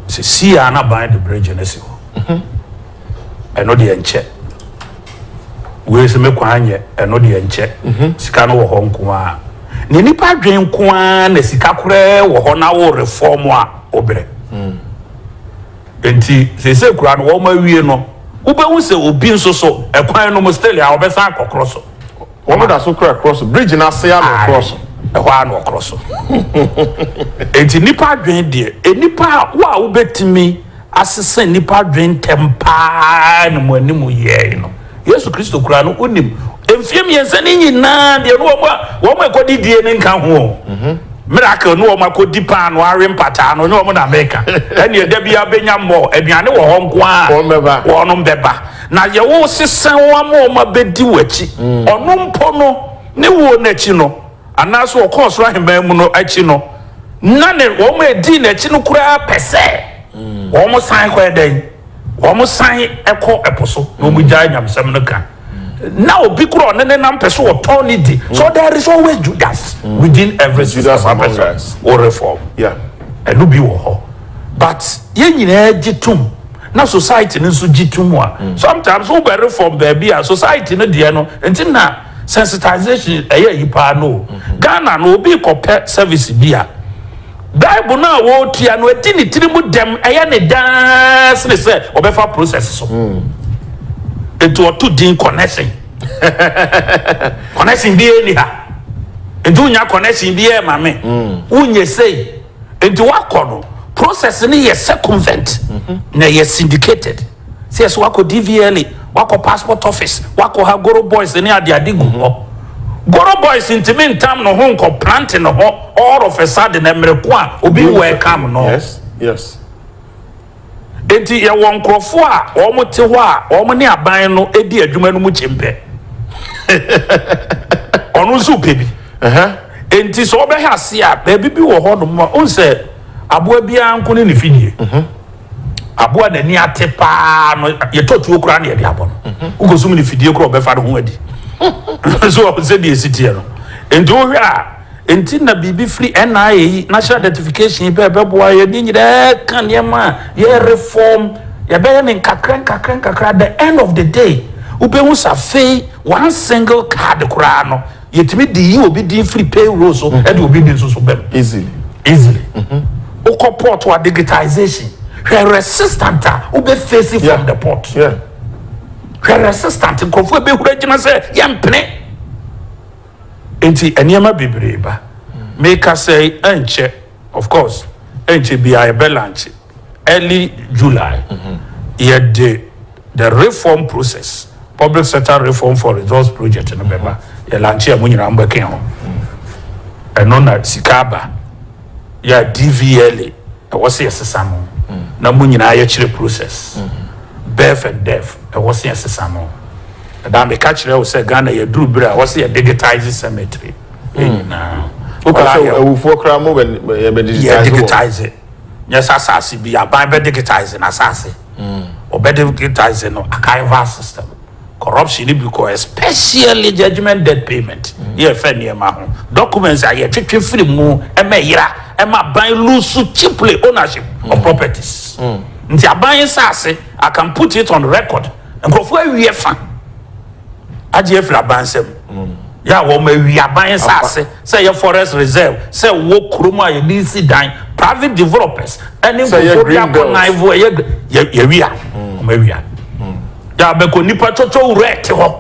sesii a na ban de bridge no si hɔ. Ɛno deɛ nkyɛ. Wei sɛ me kwan nyɛ, ɛno deɛ nkyɛ. Sika no wɔ hɔ nko ara. Na nnipa adwene nko ara na sika koraa wɔ hɔ na wo reform a wobrɛ. Nti sese koraa no wɔn awie no, wobɛhu sɛ obi nso so ɛkwan no mu still a ɔbɛsan akɔkorɔ so. Wɔn da so kura korɔ so. Bridge no ase ara na wɔkorɔ so. Ae, ɛhɔ ara na wɔkorɔ so. Enti nnipa adwene deɛ, nnipa a, wo a wobɛtumi asesa nnipa adwene ntɛm pa ara ne mo anim yɛe no. Yesu Kristo koraa no, wonim. Mfeɛ mmiɛnsa no nyinaa deɛ, ne wɔn a, wɔn a ɛkɔdi die no nka ho o. Miracle ne wɔn akɔdi paano awe mpataa no, ne wɔn na mereka. Ɛnneɛ da biara bɛnya more, aduane wɔ hɔ nko ara a, wɔnom bɛba. Na yɛ wo se sɛn wo ama wɔn abɛdi w'akyi, ɔno mpo no, ne wuo no akyi no, anaa sɛ ɔkɔ ɔsoro ahemman mu no akyi no, na ne, wɔn a ɛdii n'akyi no koraa pɛ sɛ wɔn san kɔyɛ dɛn? Wɔn san kɔ ɛpo so, na wɔn gyae nyamesɛm no ka. Na obi koro a ɔne ne nam pɛ sɛ ɔtɔn ne di. So there is always Judas within every system Judas among us. or reform. Yeah. Ɛno bi wɔ hɔ. But yɛn nyinaa gye tom. na society no nso gye to mu a, sometimes wo bɛ reform baabi a society no deɛ no nti na sensitization ɛyɛ ayi paa no o. Ghana no obi kɔ pɛ service bi a, bribe no a ɔretua no ɛdi ne tiri mu dɛm, ɛyɛ ne dɛn sene sɛ ɔbɛfa process so. Nti ɔto din connection. Connection biara nni ha. Nti wonya connection biara ma me. Wonyɛ sei. Nti wakɔ no process no yɛ circumvent na ɛyɛ syndicated sɛ yɛsɛ wakɔ DVLA, wakɔ passport office, wakɔ ha Goro boys ne ade ade gu hɔ. Goro boys ntumi ntam ne ho nkɔ plant ne ho all of a sudden ɛmere ko a obi wɔ ɛkam no. Yes, yes. Enti yɛwɔ nkurɔfo a wɔte hɔ a wɔne aban no di adwuma no mu kyempɛ. Ɔno nso repɛ bi. Enti sɛ wobɛhwɛ ase a, baabi bi wɔ hɔnom ma wohu sɛ aboa biara nko ne ne fi nie. Aboa a n'ani ate paa no, yɛtɔ tuo koraa na yɛde abɔ no. Wokɔsum no fidie koraa a, ɔbɛfa ne ho adi. So wɔn sɛdeɛ ɛsi teɛ no. Enti wohwɛ a. Enti na biribi firi NIA yi National Identification yi pɛ ɛbɛboa yɛn ne nyinaa ka nneɛma a yɛrefɔm, yɛbɛyɛ no nkakra nkakra nkakra at the end of the day wobɛhu sɛ afei one single card koraa no yɛtumi de yi obi din firi payroll so de obi din nso so ba mu easily. easily. Wokɔ port a digitisation hwɛ resistant a wobɛ face from Yeah. the port. Yeah. Hwɛ resistant nkurɔfoɔ ɛbɛhura gyina sɛ yɛmpene. Enti nneɛma bebree ba. Merekasa yi ɛnkyɛ, of course, ɛnkyɛ biara yɛbɛ lankye, early July, yɛde the reform process, Public Sector Reform for Results project no bɛba. Yɛlankye a mo nyinaa mobɛka ho. Ɛno na sika aba. Yɛ dvla ɛwɔ sɛ yɛsesa no na mo nyinaa yɛkyerɛ process birth and death ɛwɔ sɛ yɛsesa no ɛdaa meka kyerɛ wo sɛ Ghana yɛduru berɛ a ɛwɔ sɛ yɛ digitize cemetery yɛ nyinaa Woka sɛ awufoɔ koraa mo yɛ bɛ digitize wɔ? Yɛ digitize nyɛ sɛ asase bi aban bɛ digitize n'asase wɔbɛ digitize no archival system. Corruption no bi kɔ especially judgement debt payment ne yɛfa nneɛma ho documents a yɛtwetwe firi mu ɛma ɛyera ɛma aban lose cheaply ownership of properties nti aban nsaase I can put it on record nkurɔfoɔ awi ɛfa agye afiri aban nsam yɛ a wɔn awi aban nsaase sɛ ɛyɛ forest reserve sɛ wɔ kurom a yɛde resi dan private developers ɛne nkurɔfoɔ bi akɔnaivo ɛyɛ yɛwia wɔn awia. Yɛ a bɛkɔ nnipa cwɔcwɔ wura te hɔ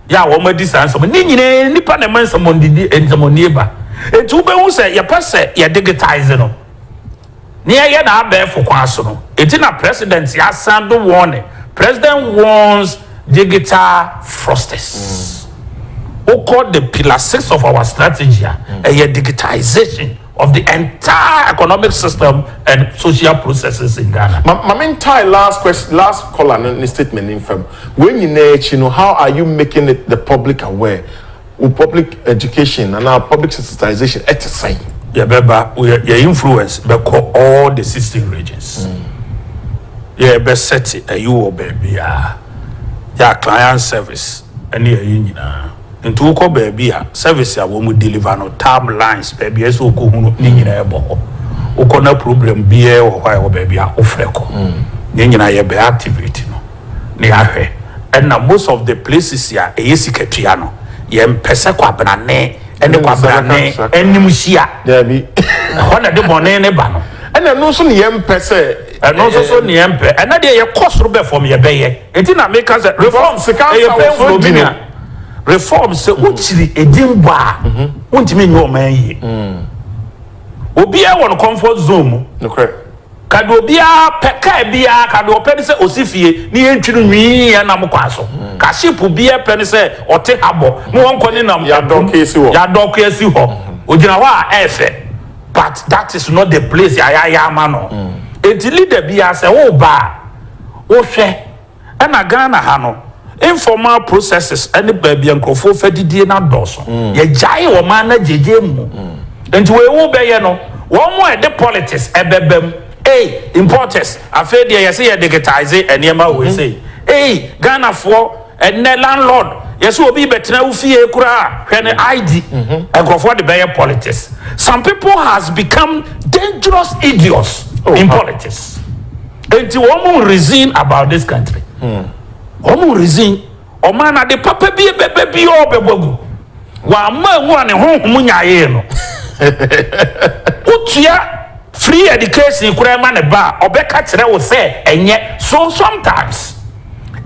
yɛ a wɔn adi saa nsɛm ne nyinaa nnipa na ɛma nsɛmɔndidi nsɛmɔnie ba eti wobɛhu sɛ yɛpɛ sɛ yɛ digitize no ne yɛyɛ na abɛɛfo kwan so no eti na president asan do wɔn ne president warns digital frosters wokɔ the pillar six of our strategy a ɛyɛ digitization. of the entire economic system and social processes in Ghana. Ma, ma me ntae last question, last caller no ne statement ne mfam. Wei nyinaa akyi no, how are you making it the public aware? Wo public education anaa public sensitization ɛte sɛn? Yɛbɛba, yɛ, yɛ influence bɛkɔ all the sixteen regions. Yɛbɛsɛte ayi wɔ baabiara. Yɛ a client service ɛne ɛyi nyinaa. Nti wokɔ baabi a service a wɔn deliver no tab lines baabi a ɛsɛ ɔkɔ hunu ne nyinaa ɛbɔ hɔ. Wokɔ na problem biara wɔ hɔ a ɛwɔ baabi a wofrɛ kɔ. Ne nyinaa yɛbɛ activate no na yɛahwɛ. Ɛna most of the places a ɛyɛ sikatua no yɛmpɛ sɛ Kwabena ne ɛne Kwabena ne anim hyia. Ɛhɔ na ɛde bɔne no ba no. Ɛna ɛno nso ne yɛmpɛ sɛ. Ɛno nso so ne yɛmpɛ. Ɛna deɛ yɛkɔ soro bɛ fam yɛbɛyɛ. Enti na meka sɛ reform ɛyɛ painful obi no reform sɛ wokyiri edin bɔ a wontumi nyɛ ɔman yie obiara wɔ no comfort zone mu ka deɛ obiara pɛ car biara ka deɛ ɔpɛ ne sɛ ɔsi fie ne yɛntwi no nwii ɛnam kwan so ka ship obiara pɛ ne sɛ ɔte habɔ ne wɔnkɔ ne nam yɛadɔke asi hɔ ɔgyina hɔ a ɛɛfɛ but that is not the place yɛayɛ ama no enti leader biara sɛ woba a wo hwɛ ɛna Ghana ha no informal processes ɛne baabi a nkurɔfoɔ fɛ didie no adɔɔso yɛ gyae ɔman no agyegye mu nti wei wo bɛyɛ no wɔn mo a ɛde politics ɛbɛba mu ei importers afei deɛ yɛse yɛ digitize ɛneɛma wei sei ei Ghana foɔ ɛnɛ landlord yɛse obi bɛtena wo fie koraa hwɛ ne ID nkurɔfoɔ de bɛyɛ politics some people has become dangerous idiots in politics. Enti wɔn reason about this country wɔn reason ɔman no ade papa bi bɛbɛ bi ɔɔ bɛbɔ agu w'ama agu a ne honhom nyayee no wotua free education koraa ma ne ba a ɔbɛka kyerɛ wo sɛ ɛnyɛ so sometimes.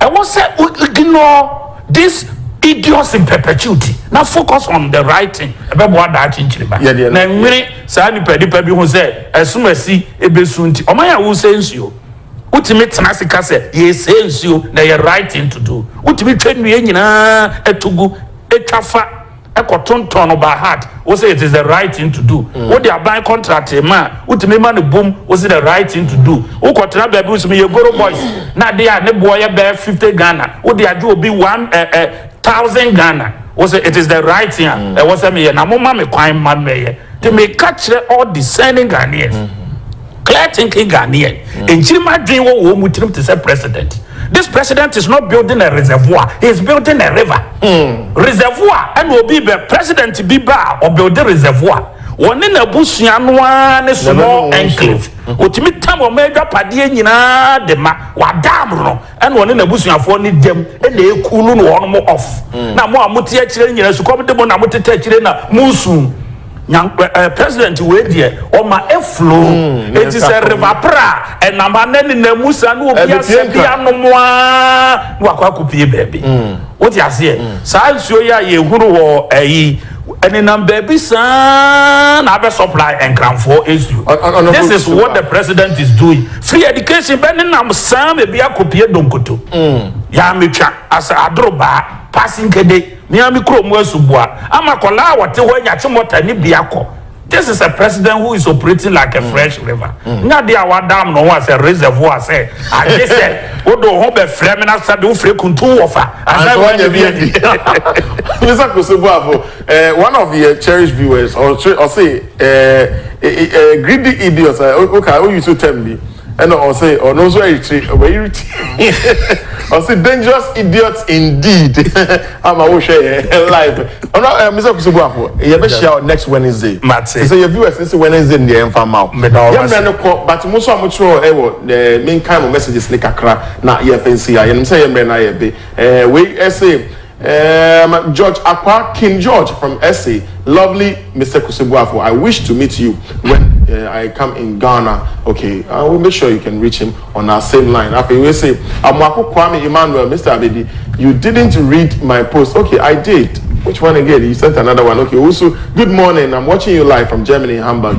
Ɛwɔ sɛ wo ignore this idiots in perpetuity na focus on the right thing. Ɛbɛboa daakye nkyirimma. Yɛ deɛ no. Na nwene saa nipa nipa bi ho sɛ ɛsom asi ɛbɛsu nti. Ɔman a wosɛe nsuo. Wotumi tena ase ka sɛ yɛresɛe nsuo na ɛyɛ right thing to do. Wotumi twa nnua nyinaa to gu, twa fa. kɔ tontɔn no by heart wo sɛ it is the right thing to do wo de aban contract ma a wo tumi ma no boom wo sɛ the right thing to do wo kɔ tena baabi wo sɛ meyɛ goro boys na adeɛ a ne boɔ yɛ bɛɛ fifty Ghana wo de agye obi one eh eh thousand Ghana wo sɛ it is the right thing a ɛwɔ sɛ meyɛ na mo ma me kwan ma mɛyɛ te meka kyerɛ all discerning Ghanaians. Clear thinking Ghanaian, nkyirimma adwene wɔ wɔn mu tirim te sɛ president. This president is not building a reservoir, he is building a river. Reservoir ɛna obi bɛ, president bi ba a, ɔbuilde reservoir. Wɔne n'abusua no ara ne small enclave. Ɔtumi tam wɔn adwapadeɛ nyinaa de ma. W'adaamoro no, ɛna ɔne n'abusuafoɔ no gyam na ɛkuulu no wɔnom off. Na mo a mote akyire no nyinaa, sukɔm de mo na motete akyire na moresu. Nyan eh, president wei deɛ ɔma ɛflo mm, eti sɛ river pra ɛnam ha na ne nan mu sa na obi asɛ bi anom a na wakɔ akopie baabi mm. wote aseɛ mm. saa nsuo yi a yɛhunu wɔ ɛyi ɛnenam baabi saa na abɛ supply nkranfoɔ nsuo this is what the president is doing free education bɛ nenam saa baabi akopie donkoto mm. yɛametwa asɛ adoro baa passing kede. Miami kurom asuboa ama akwadaa a wɔte hɔ anya akyemɔta ne bi akɔ. This is a president who is operating like a fresh river. Nyɛ adeɛ a wɔadam ne ho as a reservoir sɛ agye sɛ wode wo ho bɛfrɛ me na sɛdeɛ wofrɛ kuntu wɔfa ansa na woanya bi adi. Mister Akosua Boafo, eh, one of yɛ cherished viewers, ɔkyerɛ, ɔse, eh, eh, eh, greedy idiots, eh, woka, wo use term bi. Ɛna ɔse ɔno nso ayitire wayiri ti ɔse dangerous idiot indeed ama wo hwɛ yɛn live ɔno ɛɛ Mister Kusubuafo yɛbɛ hyia wɔ next Wednesday te sɛ yɛ viewers ne se Wednesday deɛ yɛn fa mma wo yɛ mmerɛ no kɔ but mo nso a mo twerɛ ɛwɔ ɛɛ menkan mo messages ne kakra na yɛ fɛ nsi ha yɛnim sɛ yɛ mmerɛ no ayɛ de ɛɛ wei ɛse. Erm George Akwaa King George from SA lovely Mister Kusebuafo I wish to meet you when erm I come in Ghana ok I will make sure you can reach him on our same line afei wei se Amoako Kwame Emmanuel Mister Abedi you didn't read my post ok I did which one again you sent another one ok Owusu good morning I'm watching you live from Germany Hamburg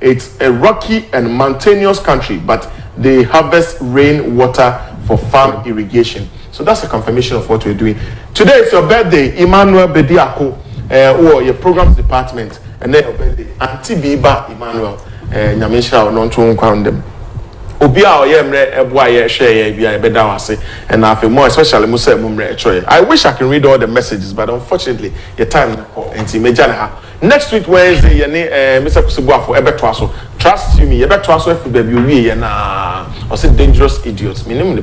It's a rocky and mountainous country but they harvest rain water for farm irrigation so that's a confirmation of what we're doing. Today it's your birthday Emmanuel Bediako eh, wowɔ yɛ programs department ɛnɛ your birthday Auntie Bi ba Emmanuel eh, Nyame nhyira wo no nto wo nkwa ndam obi a ɔyɛ mmerɛ ɛboa yɛ hwɛ yɛ bi a yɛbɛda wo ase ɛna afei mo especially mo sɛ mo mmerɛ ɛkyerɛ yɛ I wish I can read all the messages but unfortunately yɛ time no kɔ nti mɛgya ne ha Next week Wednesday yɛne ɛɛ Mister Kusibuafo ɛbɛtoa so. Trust you me, yɛbɛtoa so afiri baabi owie yɛ no aa. Ɔse dangerous idiot, menim ne.